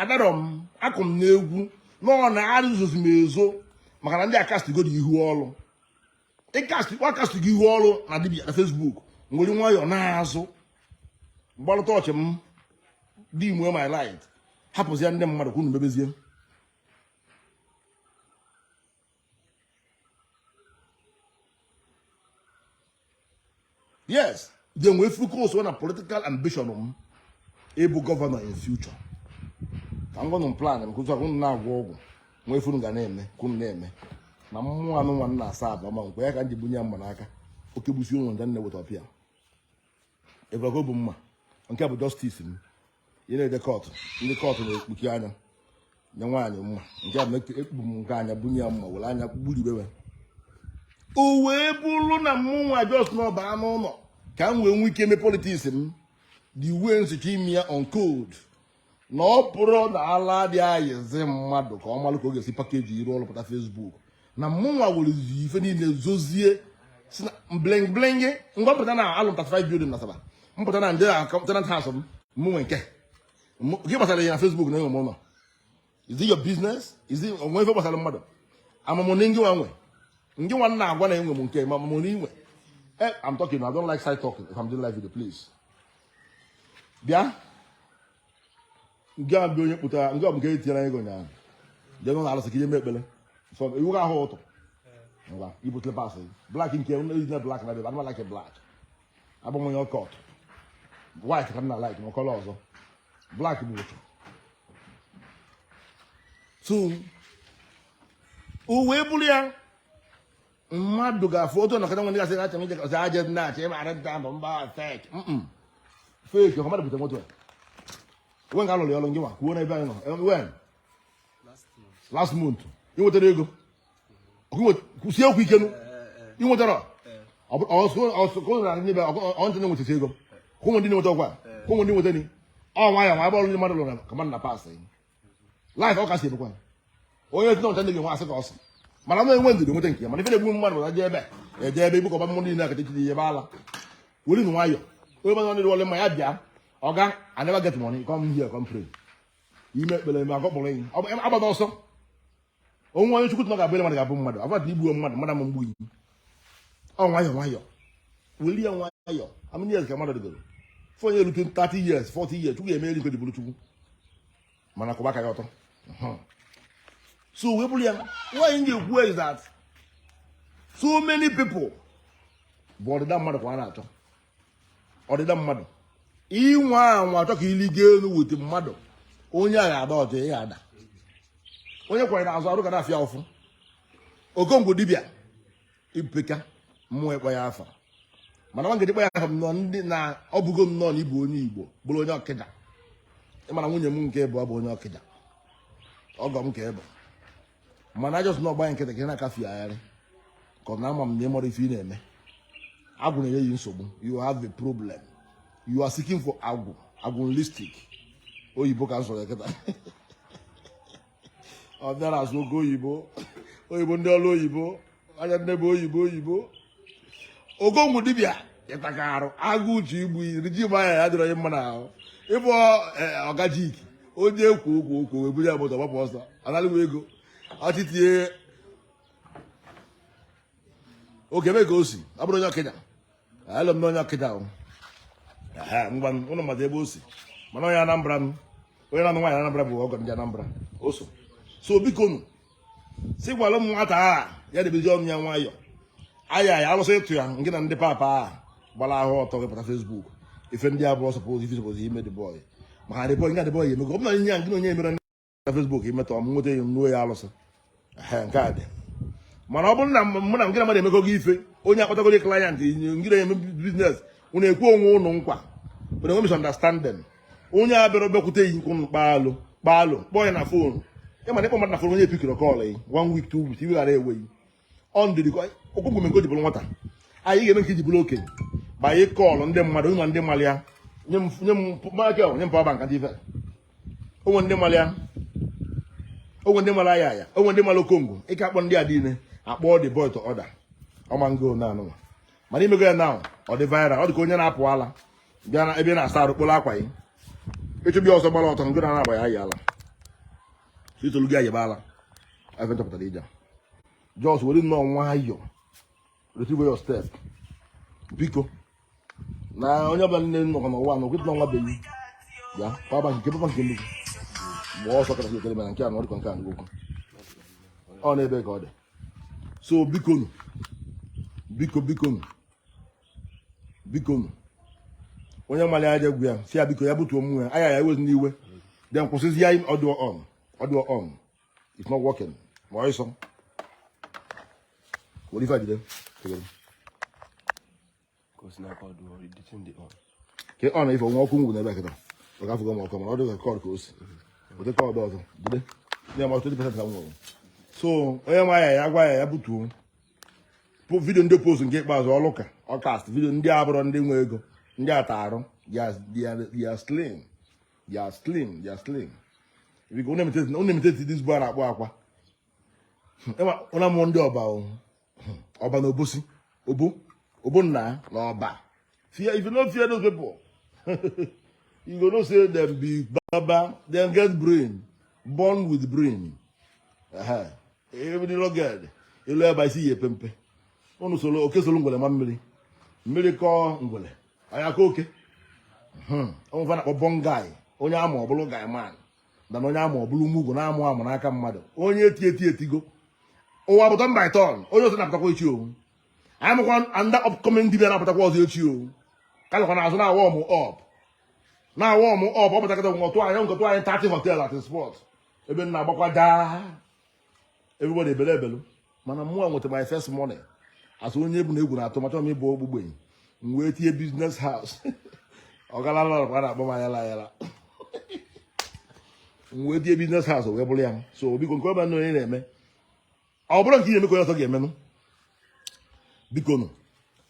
adarọ m akụ m n'egwu na ọ na-arụzụzi m ezo maka na ndị akastigo dị ihu ọrụ akastigo ihu ọrụ na dibia na Facebook m were nwayọọ naa azụ gbalata torch m dim my light hapụzie ndị mmadụ ka unu mebezie yes then we focus on a political ambition m ịbụ governor in future ka m gwa unu plan m cos unu na-agwọ ọgwụ nwee ife unu ga na-eme ka unu na-eme na mụwa anọwa n'Asaba ma nkwe ya ka m ji bunye ya mma n'aka oke gbusi onwe ya m eweta ọpịa ịgwago bụ mma nke bụ justice m ị na-eje court ndị court na-ekpuchi anya nye nwaanyị mma nke a ekpu m nke anya bunye ya mma were anya gburibewe o wee bụrụ na mụnwa just nọba n'ụlọ ka m wee nwee ike eme politics m the way m si chọọ ime ya on code na ọ bụrụ na ala adị ayịzi mmadụ ka ọ malụ ka ọ ga-esi package iru ọrụ pụta Facebook na mụnwa were ife niile zozie si na bling bling ngwa mpụta na-alụ 35 building na Asaba mpụta na ndị tenant house m mụ nwe nke gị gbasara ya na Facebook na enwe m ụlọ is it your business is it o nwe ife gbasara mmadụ ama mụ na ngị nwa nwe ngị nwa na-agwa na enwe m nke m ama mụ na i nwe eh, I'm talking I don't like side talking if I'm doing live video please bịa nke a bụ onye kpụtara nke ọ bụ nke e tinyere ego ụnyaahụ jee n'ụlọ arụsị ka i je mee ekpere sọ iwu ahụ ụtọ ngwa i bu slippers gị black nke ejina black na bebe anọ m a-like black abụ m onye ọka ọtụ white ka m na like ma colour ọzọ black bụ otu o si wee bụrụ ya mmadụ ga-afụ otu ọnọkọta nwe ndị gasị achọ ije ọzọ aje ndị achọ ịma arị nta ndụ mba fake fake ọkọ mmadụ bute moto when ka a lụrụ ya ọrụ ngị nwa kwuo n'ebe anyị nọ Eh, when last month ị nwetara ego Ọkụ nwet- kwụsie okwu ike nụ ị nwetara ọsụkụnra ndị be ọntị na-enwetasi ego kwụnwe ndị na-enweta ọkwa kwụnwe ndị nweta ni ọ nwayọ nwa ebe ọrụ ndị mmadụ lụrụ ka mmadụ na pass life ọ kasị ebekwa onye dị n'ọcha ndị gị nwa asị ka ọ sị mana m enwe ndidi nweta nke ya mana ife na-egbu mmadụ na-eje ebe eje ebe ibukọba mmụọ niile akata ichiri ihe ebe ala were nụ nwayọ onye mmadụ nọdịrị wọle mma ya bịa Oga I never get money come here come pray i mee ekpere eme agọkpọrọ enyi agbana ọsọ o nwe onye chukwu ga-abụ mmadụ ga-abụ mmadụ avadị igbuo mmadụ mmadụ ama egbu yi ọ nwayọ nwayọ weli ya nwayọ how many years ka mmadụ dịgoro before onye erute 30 years 40 years chukwu ga-eme ihe o ji bụrụ chukwu mana kụba aka ya otu o si wee bụrụ ya nwaanyị m ga-ekwu is that so many people bụ ọdịda mmadụ ka a na-achọ ọdịda mmadụ inwe anwa chọ ka i ligo elu wute mmadụ onye a ga-ada ọjọ ya ada onye kwa yi na azụ arụ ga na-afịa ụfụ okongwu dibịa ibupeka mmụọ ị kpọ ya afa mana nwa ngedikpọ ya afa m nọ ndị na ọ bụgo m nọọ na ị bụ onye Igbo bụrụ onye Okija ị ma na nwunye m nke mbụ bụ onye Okija ọgọ m ka ị bụ mana just na ọ gba yi nkịtị ka ị na-akafe agharị cause na ama m na ị marọ ife ị na-eme agwụ na-enye yi nsogbu you have a problem you are seeking for agwụ agwụlistic oyibo ka m sụrụ ya kịta ọ bịara asụ oke oyibo oyibo ndị ọrụ oyibo onye nne bụ oyibo oyibo okongwu dibịa ịtaka arụ agụ uche igbu iri ji manya ya dịrọ onye mma na ahụ ịbụ e, ọgajik onye ekwu okwu okwu wee buru ya moto gbapụ ọsọ ọ nalịwa ego ọchịtie oge ebe ka o si ọ bụrụ onye Okija alụ m n'onye ọkịja ahụ ngwa ụnụ mmadụ ebe o si mana onye anambra m onye na-anụ nwaanyị anambra bụ ọgọ ndị anambra o so so biko nụ si gwara m nwata a ya debezi ọnụ ya nwayọ Ayaya alụsị ịtụ ya ngị na ndị papa a gbara ahụ ọtọ gị pụta Facebook ife ndị abụọ suppose ife suppose ime the boy maka the boy nga the boy emego ọ bụ na ihe a ngị na onye emere na Facebook imetọ m nweta ya nruo ya alụsị nke a dị mana ọ bụrụ na mụ na ngị na mmadụ emekọgo ife onye akpatagoro client ngị na-eme business unu ekwe onwe ụnụ nkwa mana enwe misunderstanding onye a abịarọ bịakwute yi nke ụnụ kpaalụ kpaalụ kpọọ ya na phone ị ma na ịkpọ mmadụ na phone onye pickirọ call yi one week two weeks iwe gara ewe yi ọ ndị Okongwu mee nke o ji bụrụ nwata anyị ga-eme nke iji bụrụ okenye ma anyị call ndị mmadụ o nwe ndị malụ ya nye m nye m Michael nye m power bank dị ife o nwe ndị malụ ya o nwe ndị malụ Ayaya o nwe ndị malụ Okongwu ike akpọ ndị a niile akpọ the boy to order ọma ngo na anụnwa mana imego ya na ọ dị viral ọ dị ka onye na-apụ ala bịa na ebe ị na-asa arụ kporo akwa gị ị chụbe ọsọ gbara ọtọ ngụ na na-agba ya ala itolu gị ayịba ala ebe chọpụtara ije just were nnọọ nwayọọ retrieve your step biko na onye ọbụla nne nnọkọ n'ụwa na okwetụla nwa beghị ya papa nke papa nke nnukwu mgbe ọsọ kọrọ ekele mana nke a na ọdịkọ nke a nke okwu ọ na-ebe ka ọ dị so bikonu biko bikonu biko onye mara ya je gwa ya si ya biko ya butuo mmụọ ya Ayaya ewezina iwe then kwụsịzi ya hold on hold on it's not working ma ọ ịsọ were ife ajide ke ọ na ife onwe ọkụ ngwụ n'ebe a kịta ọ gafụgo m ọkụ mana ọ dịghị cord ka o si ụdị cord ọzọ jide ya ma twenty percent ka m nwere so onye ma ya ya gwa ya ya butuo video ndị post nke ikpeazụ ọlụka ọ cast video ndị abụrọ ndị nwe ego ndị ata arụ they are slim they are slim they are slim biko unu emeteti this boy na-akpọ akwa ụna mụọ ndị ọba ọba na obosi obo obo nna na ọba Fear, if you no fear those people, you go know say them be baba, them get brain, born with brain. Uh-huh. Even the rugged, you learn by see a pempe. Unu solo, oke solo ngwele ma mmiri. Mmiri kọ ngwele. Ọ ya-akọ oke. Hmm. O nwe ife a na-akpọ bụ guy, onye ama ọbụlụ guy man, na onye ama ọbụlụ mugu na-amụ amụ n'aka mmadụ. Onye eti eti etigo. Ụwa bụ turn by turn, onye ọzọ na-apụtakwa echi owu. anyị makwa another upcoming dibia na-apụtakwa ọzọ echi ọ ka nọkwa n'azụ na-awarm up na-awarm up ọ pụtakọta ngọtụ anyị ngọtụ anyị thirty hotel at spot ebe m na-agbakwa daa everybody ebele ebelu mana mụnwa nweta my first money as onye ebu na egwu na-atụ machọ m ịbụ ogbugbenyi m wee tinye business house ọgalalọrọkwa na-akpọ m Ayaya Ayaya m wee tinye business house wee bụrụ ya m so biko nke ọbụla onye na-eme ọ bụrọ nke ị na-eme ka onye ọzọ ga-emenụ biko nụ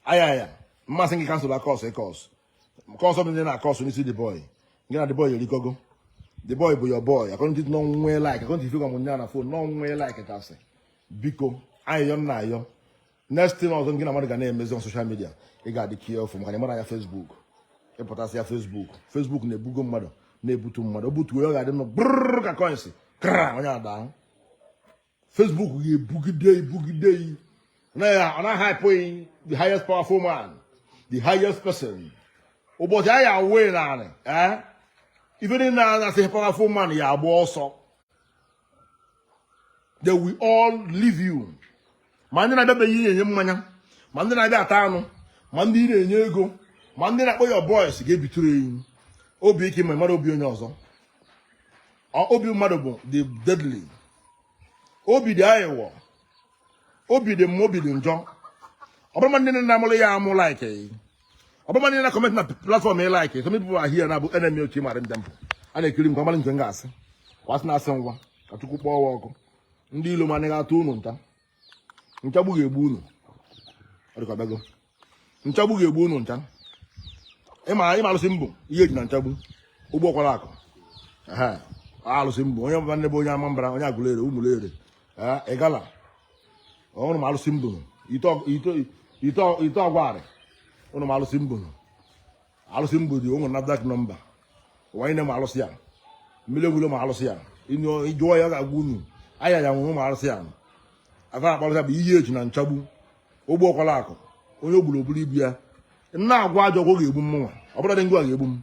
Ayaya mmasị gị cancel akọs ịkọs kọs ọ bụla na-akọs n'isi the boy gị na the boy erikogo the boy bụ your boy according n'ọnwụnwe like according to ife gwa m nya na phone n'ọnwụnwe like tasị biko ayịyọ m na-ayọ next thing ọzọ gị na mmadụ ga na-emezi on social media ị ga-adị careful maka na ịmara ya Facebook ịpụtasị ya Facebook Facebook na-ebugo mmadụ na-ebutu mmadụ o butuo ya ọ ga-adị nụ brrr ka coins kra onye ada ahụ Facebook ga-ebugide gị bugide gị ọ na-ahype gị the highest powerful man the highest person ụbọchị a ya-awụ gị n'anị ee eh? ife niile a na-asị powerful man ya agba ọsọ they will all leave you ma ndị na-abịa be gị ị na-enye mmanya ma ndị na-abịa ata anụ ma ndị ị na-enye ego ma ndị na-akpọ your boys ga-ebitụrụ enyi obi ike ma mara obi onye ọzọ obi mmadụ bụ the deadly obi dị aghụghọ obi dị mma obi dị njọ ọ bụ ma ndị na-amụrụ ya amụ like ọ bụ ma ndị na-comment na platform ị like some people are here na-abụ enemy otu ịmara ndị mbụ a na-ekiri m ka ọ mara nke m ga-asị kwasị na-asị ngwa ka chukwu kpọọ wa ọkụ ndị ilo m anaghị atụ unu nta nchagbu ga-egbu unu ọ dịka ọ bịago nchagbu ga-egbu unu ncha ị ma ị ma alụsị m bụ ihe eji na nchagbu ogbu ọkwala akụ Ehe, alụsị mbụ onye ọbụla na-abụ onye Ọmambala onye Agụleri Ụmụleri ee, Igala unu ma alụsị mbụ ite ọ- ite- ite ọ- ite ọgwarị unu ma alụsị mbụ alụsị m bụdị o nwere NAFDAC number ụwa niine ma alụsị ya mmiri enwe ilo ma alụsị ya ị jụọ ya ga-agwa unu Ayaya nwụrụ ma alụsị ya aka akpa alụsị bụ ihe eji na nchagbu ogbu ọkwala akụ onye o gburu o buru ibu ya m na-agwọ ajọ ọgwụ ga-egbu mụnwa ọ bụla dị ngwa ga-egbu m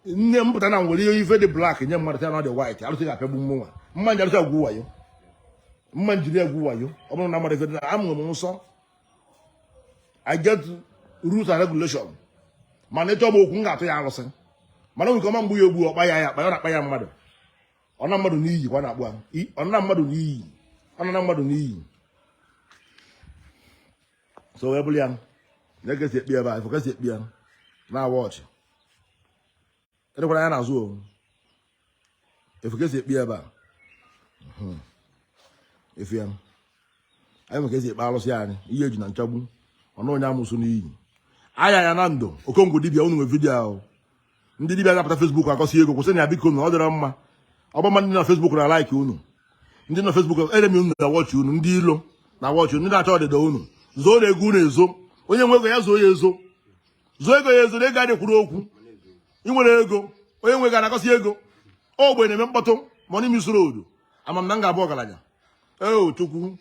nne m pụta na nwere ihe ife dị black nye mmadụ ya na ọ dị white alụsị ga-apịagbu mụnwa ma m ji alụsị agwọ wayo ma m jiri agwọ wayo ọ bụrụ na mmadụ ife dị na amụrụ m nsọ I get rules and regulation mana ị chọ m okwu m ga-atụ ya arụsị mana nwere ọma mgbu ya egbu ọkpa ya ya akpa ya na-akpa ya mmadụ ọ na mmadụ n'iyi kwa na-akpụ ahụ ọ na mmadụ n'iyi ọ na mmadụ n'iyi so wee bụrụ ya na-ekesi ekpi ebe a ife kesi ekpi ya na-awa ọchị Edekwara ya n'azụ o. Ịfụ ka esi ekpe ya ebe a. Mhm. Ịfụ ya. Anyị nwere ka esi ekpe alụsị anyị. Ihe eji na nchagbu. Ọnụ onye amụsụ n'iyi. Ayaya Nando. Okongwu dibịa unu nwe vidiyo ahụ. Ndị dibịa ga-apụta Facebook akọsi ego kwụsịnụ ya bikonu ọ dịrọ mma. Ọ bụ mma ndị na Facebook na like unu. Ndị na Facebook enemy unu na watch unu ndị ilo na watch unu ndị na-achọ ọdịda unu. Zoonu ego unu ezo. Onye nwe ego ya zoo ya ezo. zoo ego ya ezo na ego adị ekwuru okwu ị nwere ego onye nwe ego na-akọsị ego ogbenye na-eme mkpọtụ money miss road ama m na m ga-abụ ọgaranya ee chukwu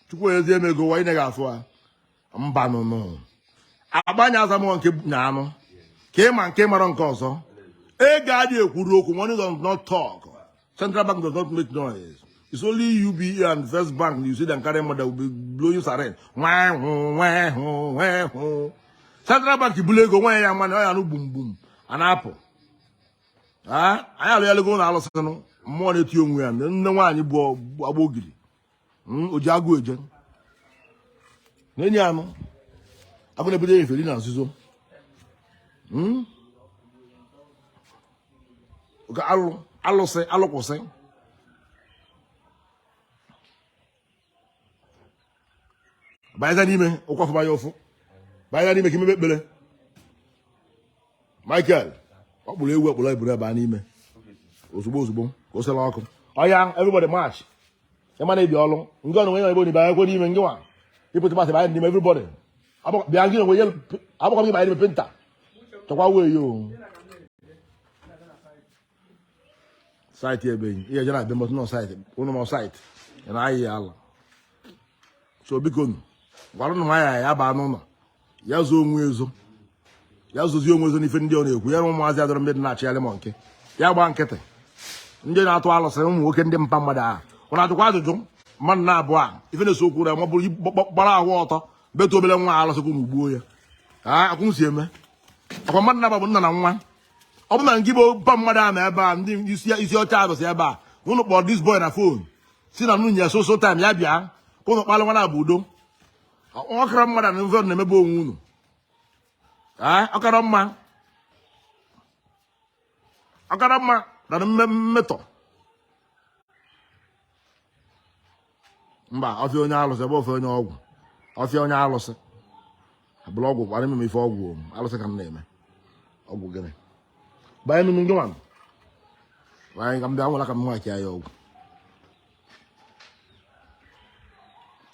chukwu ezie m ego wa ị naghị afụ ha mbanụ unu agbanya azamọ nke na anụ ka ị ma nke mara nke ọzọ ego adịghị ekwuru okwu money does not talk Central Bank does not make noise. It's only UBA and First Bank you see them carry money that will be blowing siren. Wah, wah, wah, wah, wah. Central Bank bulu ego nwa ya mmanụ ọya nụ gbum gbum a na-apụ. Ah, anyị alụghị alụgo na alụsịnụ mmụọ na-eti onwe ya nne nwaanyị bụ agba ogiri. hmm, oji agụ eje na-enye anụ agụ na-ebido ya eferi na nzuzo hmm? alụsị alụkwụsị banyeza n'ime ụkwafụ banye ụfụ banyeza n'ime ka imebe ekpere Michael ọ kpụrụ ewu ekpụrụ eburu ebe a n'ime ozugbo ozugbo ka o sela ọkụ oya everybody march ịma na ebi ọlụ ngị ọnụ nwe ebe onibe akwụkwọ n'ime ngị nwa ịpụta masị banye n'ime everybody bịa ngị onwe agbakọ gị banye n'ime penta chọkwa wee yo saịtị ebeghị ihe jere abịa mọtụ n'outside ụnụ nọ outside ya na ahịa ya ala so bikonụ gwaranụ Ayaya ya baa n'ụlọ ya zoo onwe ezo ya zozie onwe ezo n'ife ndị ọ na-ekwu ya na ụmụazị adọrọ ndị dị na-achịgharị m nke ya gbaa nkịtị ndị na-atụ alụsị ụmụ nwoke ndị mpa mmadụ ahụ ụnụ ajụkwa ajụjụ mmadụ naabụ a ife na-ese okwu na ma ọ bụrụ gbara ahụ ọtọ betu obere nwa alụsị ka unu gbuo ya akwụ si eme ọkwa mmadụ na-abụ nna na nwa ọ bụ na ngị bụ mpa mmadụ a na ebe a ndị isi isi ọcha arụsị ebe a ụnụ kpọrọ this boy na phone si na unu nye ya soso time ya bịa ka ụnụ kpalụ wa naabụ udo ọkara mmadụ na ife na-emebe onwe unu Ee, ọ kara mma ọ kara mma na mme- mmetọ mba ọfịa onye alụsị abụrọ ọfịa onye ọgwụ ọfịa onye alụsị abụrọ ọgwụ gbara eme m ife ọgwụ o, alụsị ka m na-eme ọgwụ gịnị banye m ngị nwanụ banye ka m bịa nwela ka m nwachi ya ọgwụ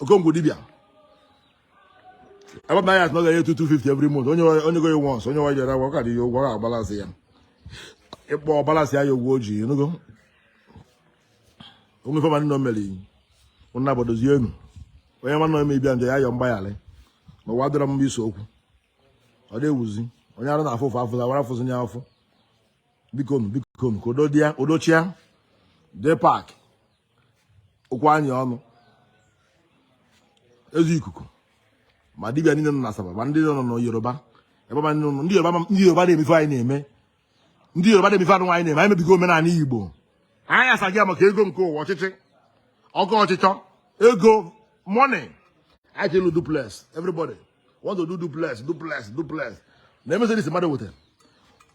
okongwu dibịa ebe banye asị na ọ ga-enye 250 every month onye o nyego once onye wa jere agwa ọ ka ji ya ụgwọ ọ ga-abalance ya ịkpọ ọ balance ya ya ụgwọ o ji ị nụgo o nwee ife ọbụla nọ mere ụna bodozie enu onye nwanne ome ibia nje ya yọọ mgbaghara ma ụwa dịrọ mma ise okwu ọ dị ewuzi onye arụ na-afụ ụfụ afụzi awara afụzi nye afụ biko nu biko nu ka udo dị ya udo chịa jee pack ụkwụ anyị ọnụ ezi ikuku ma dibịa niile nọ na asaba ma ndị nọ na yoruba ebe ma ndị nọ- ndị yoruba ma- ndị yoruba na-eme ife anyị na-eme ndị yoruba na-eme ife anyịnwa na-eme anyị mebigo omenala igbo anyị asaghị ya maka ego nke ụwa ọchịchọ ego ọchịchọ ego money anyị chelu duplex everybody want to do duplex duplex duplex na mercedes mmadụ wete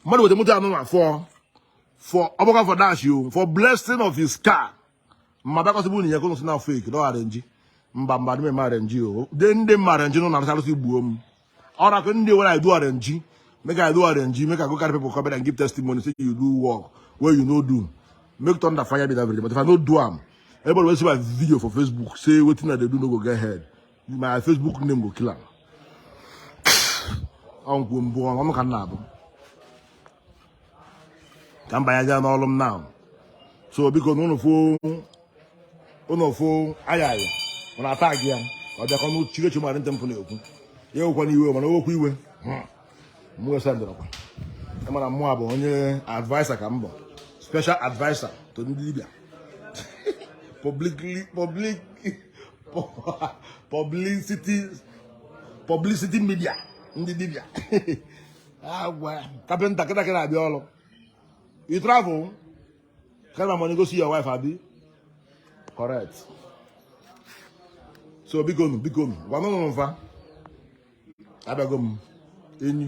mmadụ wete moto anụnwa fọ for ọgbakọ for dash you for blessing of his car mma bịakọsịbụ unu ya ka unu si na afọ eke na arenji mba mba dị m arenji o de ndị m arenji nụ na-arụsarụsị gbuo m ọra ka ndị were idu arenji make i do arenji make i go carry people come back and give testimony say you do work wey you no do make thunder fire be that very day but if i no do am everybody wey see my video for facebook say wetin i dey do no go get head my facebook name go kill am ọnkwụ mbụ ọnụ ka m na-abụ ka m banye jee n'ọrụ m now so biko na ụnụfụ ụnụfụ aya aya ọ na-ata gị ya ọ bịakọ n'otu chigechi mara ntị mpụ na-ekwu ya ewekwana iwe mana o wekwa iwe hmm. m wesa ndịrọkwa ị ma na mụ a bụ onye adviser ka m bụ special adviser to ndị dibịa publicly public publicity publicity media ndị dibịa kapịnta kịta kịta abịa ọrụ you travel carry my money go see your wife abi correct so biko nu biko nu gwa nụnụ mfa abịago m enyi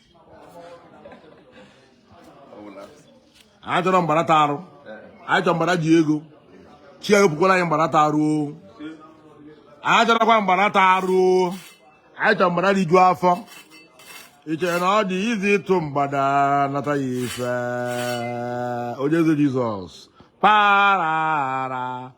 anyị achọrọ mgbada tara arụ anyị chọrọ mgbada ji ego chi wepụkwalụ anyị mgbada tara arụ anyị achọrọkwa mgbada tara arụ anyị chọrọ mgbada riju afọ ị chere na ọ dị easy ịtụ mgbada nata ya ife onye eze jesus parara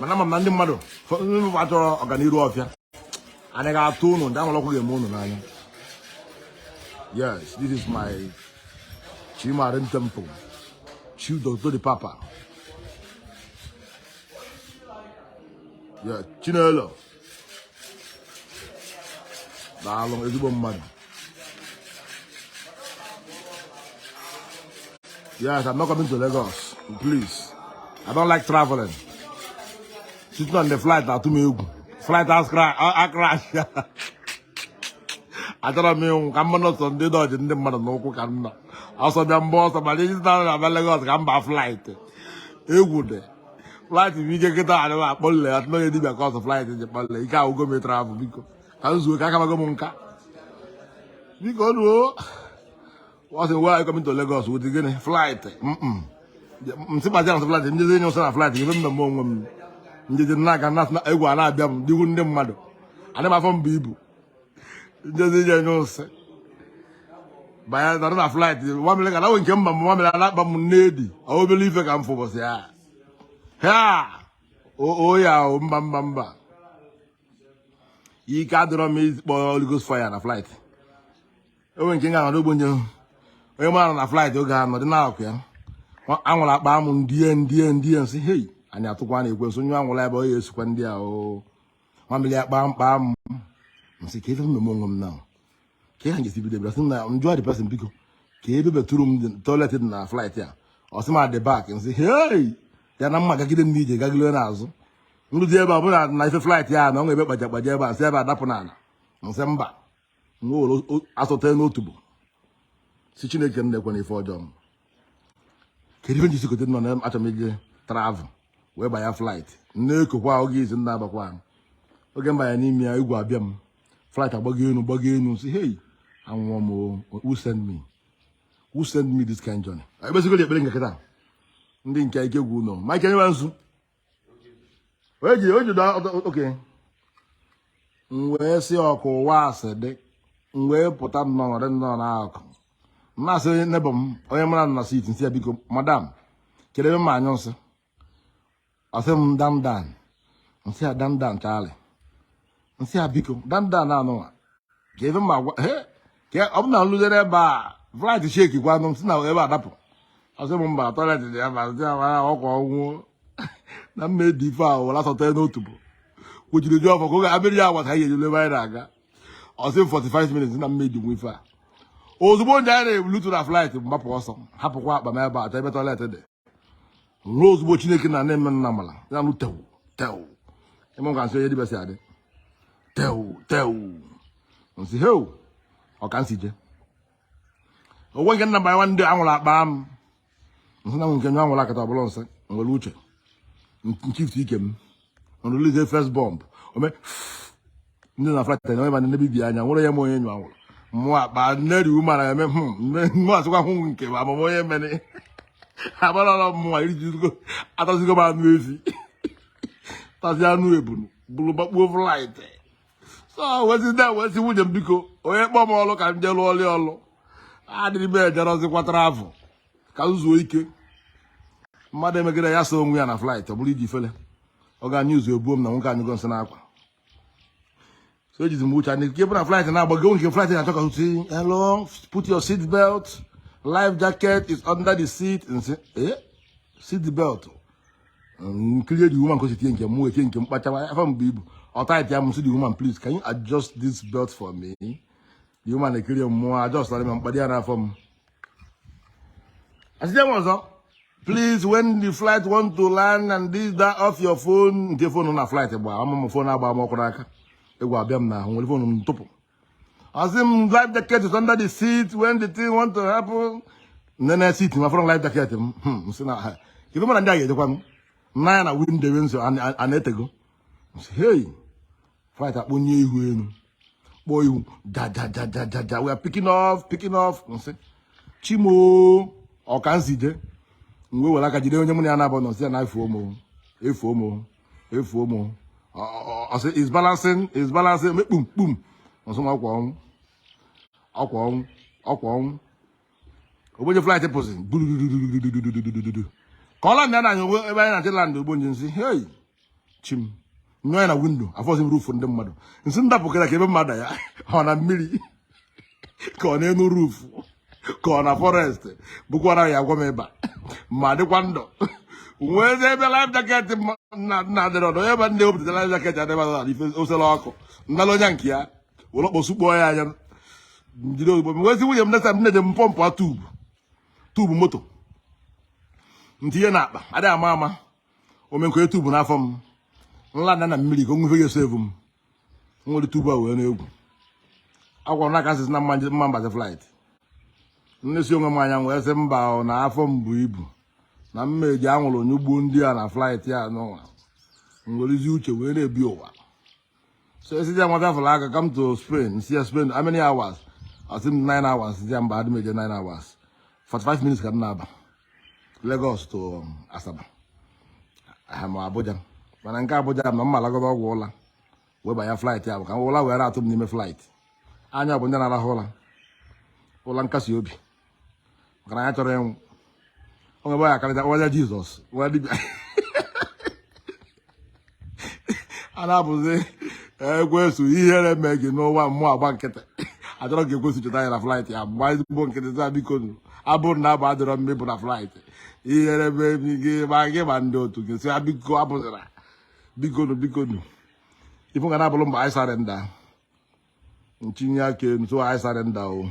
mana ama m na ndị mmadụ ụfọdụ achọrọ ọganiru ọfịa anyị ga-atụ ụnụ ndị amalọkụ ga-eme ụnụ n'anya yes this is my chi marine temple chief doctor the papa yeah chinelo daalụ ezigbo mmadụ yes i'm not coming to lagos please i don't like traveling sitting on the flight na-atụ m egwu flight has cra- a- a crash achọrọ m ịnwụ ka mmanụ ọsọ ndị dodge ndị mmadụ n'ụkwụ ka m nọ ọsọ bịa m gbaa ọsọ mana iji na abịa lagos ka m baa flight egwu dị flight bụ ike nkịta a dịwa akpọlile ya tụnye dibịa ka ọsọ flight ji kpọlile ike agwụgo m ị travel biko ka m zuo ka akabago m nka biko ruo ọ sị we are coming to Lagos with gịnị flight nsị gbazi na flight njezi enye ụsọ na flight ebe m na-eme onwe m njezi na-aga na egwu a na-abịa m dịgwu ndị mmadụ adị m afọ m bụ ibu njezi ije nye ose banye nọrọ na flight nwamịlị ka nawe nke mba m nwamịlị ana-akpa m n'edi obele ife ka m fụ ụbọchị ya ha o ya o mba mba mba ike adịrọ m ikpọ Holy Ghost fire na flight o nwe nke nga nọrọ ogbenye onye mara na flight oge a nọdị na-akụ ya ahụrụ akpa m ndie ndie ndie nsị hei anyị atụkwa na ekwensu nyụ ahụrụ ebe ọ ya-esikwa ndị a o mamịrị ya kpaa mkpa m nsị kee ife m meme onwe m na ka ihe njesi bido bịa sị na njụọ the person biko kee ebe bathroom toilet dị na flight a ọ sị m at the back nsị hei ya na m ya-agagide m n'ije gagide n'azụ nruzi ebe a bụrụ na ife flight ya na o nwe ebe kpaja kpaja ebe a nsi ebe a dapụ n'ana nsị mba nwere asọ tee n'otubo sị chineke nna ekwena ife ọjọọ m kedu ife njisikote nọ na achọ m ije travel wee banye flight na-ekokwa oge izi m na-abakwa ahụ oge mbanye n'ime ya egwu abịa m flight agbago enu gbago enu sị hey anwụọ m o, who send me who send me this kind journey ekpesigo ekpere nke kịta ndị nke ike gwụ nọ ma ike nyewa nzu eji oji da okay m wee sị ọkụ ụwa asị dị m wee pụta nnọọ dị nnọọ n'akụ m asị neighbour m onye mụ na ya nọ na seat nsị ya biko madam kedu ebe m ya-anyụ nsị ọ sị m down down nsị ya down down chaalị nsị ya biko down down anụwa ka ebe ma gwa he ka ọ bụ na nluzie ebe a flight shake-ikwa nụ m si na ebe a dapụ ọ sị m mba toilet dị ya ma nsị ya mara ọkwa ọnwụ na m ya-edi ife a were asọ tee n'otubo kwuchiri jụọ ọ fọ ka oge abịrị ya agwa ka anyị ga-ejelu ebe anyị na-aga ọ sị m 45 minutes na m ya-edinwu ife a ozugbo ndị anyị na-ebulutu na flight mgbapụ ọsọ hapụkwa akpa m ebe achọ ebe toilet dị ruo ozugbo chineke nna na-eme nna mala ya nụ tewu tewu ị ma ka nsị onye dibe si adị tewu tewu nsị heu ọ ka nsi je o nwe nke nna banyere ndị ahụrụ akpa m nsị na nke nyụ ahụrụ a kịta ọ bụlụ nsị nwere uche m shift ike m nrelease first bomb o mee ndị na flight na ebe na-ebibi anya nwere ya ma onye nyụ ahụrụ mụ akpa neri umara eme mụ asịkwa hụ nke ma ama m onye mere agbarala mmụọ erijugo atazigo m anụ ezi tazi anụ ebunu buru gbakpuo flight so wezi ndị a wezi nwunye m biko onye kpọọ m ọlụ ka m jee lụọ ọlụ ọlụ adịrị m ejerọzikwa travel ka m zuo ike mmadụ emegide ya so onwe ya na flight ọ bụrụ iji fele ọ ga news ebuo m na nwoke anyụgo nsị n'akwa so ejizi m uche anyị nke bụ na flight na-agbago nke flight na-achọ ka si hello put your seat belt life jacket is under the seat m sị eh seat belt m kiri the woman ka o si tinye nke m wee tinye nke m kpachawa afọ m bu ibu ọ tight ya m sị the woman please can you adjust this belt for me the woman ekiri m mụọ adjustara m m kpadi ya n'afọ m A sịzi m ọzọ, please when the flight want to land and this that off your phone nke phone na flight gba ama m phone agba m ọkụ n'aka egwu abịa m n'ahụ m were phone m tụpụ a sị m life jacket is under the seat when the thing want to happen m nee na seat m afụrọ life jacket m hmm, m sị na ha ife mara ndị a ga-ejekwa m nee anya na window ewe nso ana etego m sị hey flight akpọnye ihu elu kpọọ ihu jajajajajaja we are picking off picking off m sị Chi m o ọkanzide m wee were aka jide onye mụ na ya naabọ nọ sị ya na efuo m o efuo m o efuo m o ọ sị is balancing is balancing mee kpum kpum m sị m ọ kwa ọnwụ ọ kwa ọnwụ ọ kwa ọnwụ o boy flight pụsị gburududududududududududu ka ọ landị m nee anya ebe anyị na-achọ ịlandị o boy m sị hei Chi m nyoo anya na window afụzi m roof ndị mmadụ m sị m dapụkwara kee ebe m ma-adanye ọ na mmiri ka ọ n'enu roof ka ọ na forest bụkwara ya agwa m ịba ma dịkwa ndụ wee zie ebe life jacket na-adịrị ọdụ ebe ndị wepụta life jacket adịba na ife osela ọkụ m nara onye nke ya were ọkpọ sukpọọ ya anya m jide ozugbo m gwazi nwunye m next time m na-eje m pumpụa tube tube moto m tinye na akpa adịghị ama ama o mee m kee tube n'afọ m m land na mmiri ka o nwee ife ya-esave m m were tube a wee na-egwu agwara na aka m sịzi na m ma-abazi flight m nesi onwe m anya wee sị mba na afọ m bu ibu na m ma-eji ahụrụ nyụgbuo ndị a na flight ya n'ụwa m werezi uche wee na-ebi ụwa so a sịzi nwa bịa fụrụ aka come to Spain m sị ya Spain how many hours ọ sị m 9 hours sị ya mba adị m eje 9 hours 45 minutes ka m na-aba Lagos to um, Asaba aha ma Abuja mana nke Abuja na m ma-alagodu ọgwụ ụla wee banye flight ya bụ ka ụla wee atụ m n'ime flight anyị abụ ndị na-arahụ ụla ụla nkasi obi maka na ya chọrọ ịnwụ onwe bụ ya akarịta ọwaja jizọs wee dibịa a na-abụzi ekwesu ihere mee gị n'ụwa mụ agba nkịtị achọrọ ka ekwesu cheta ya na flight ya mgbe anyị bụ nkịtị taa biko nụ abụrụ na abụ adịrọ mma ịbụ na flight ihere mee gị ma gị ma ndị otu gị sị biko abụzịra biko nụ biko nụ ife ị ga na-abụrụ m bụ I surrender ntinye aka elu so I surrender o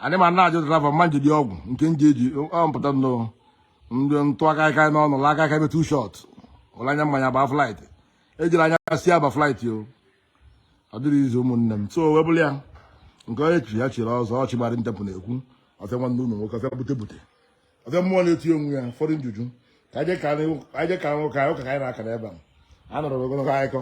anyị ma na-ajụ driver mma njidi ọgwụ nke nji eji ọ mpụta nnọọ ndị ntụ aka aka n'ọnụ la aka aka ebe two shot ụlọ anya mmanya ba flight ejiri anya si aba flight o ọ dịrị izu ụmụnne m so webụla ya nke onye chi ya chiri ọzọ ọchị gbara ntepụ na-ekwu ọfịa nwanne ụlọ nwoke ọfịa bute bute ọfịa mmụọ na-eti onwe ya ụfọdụ njuju ka anyị ka nwoke anyị ụka ka anyị na-akara ebe a anọrọ ogologo akụkọ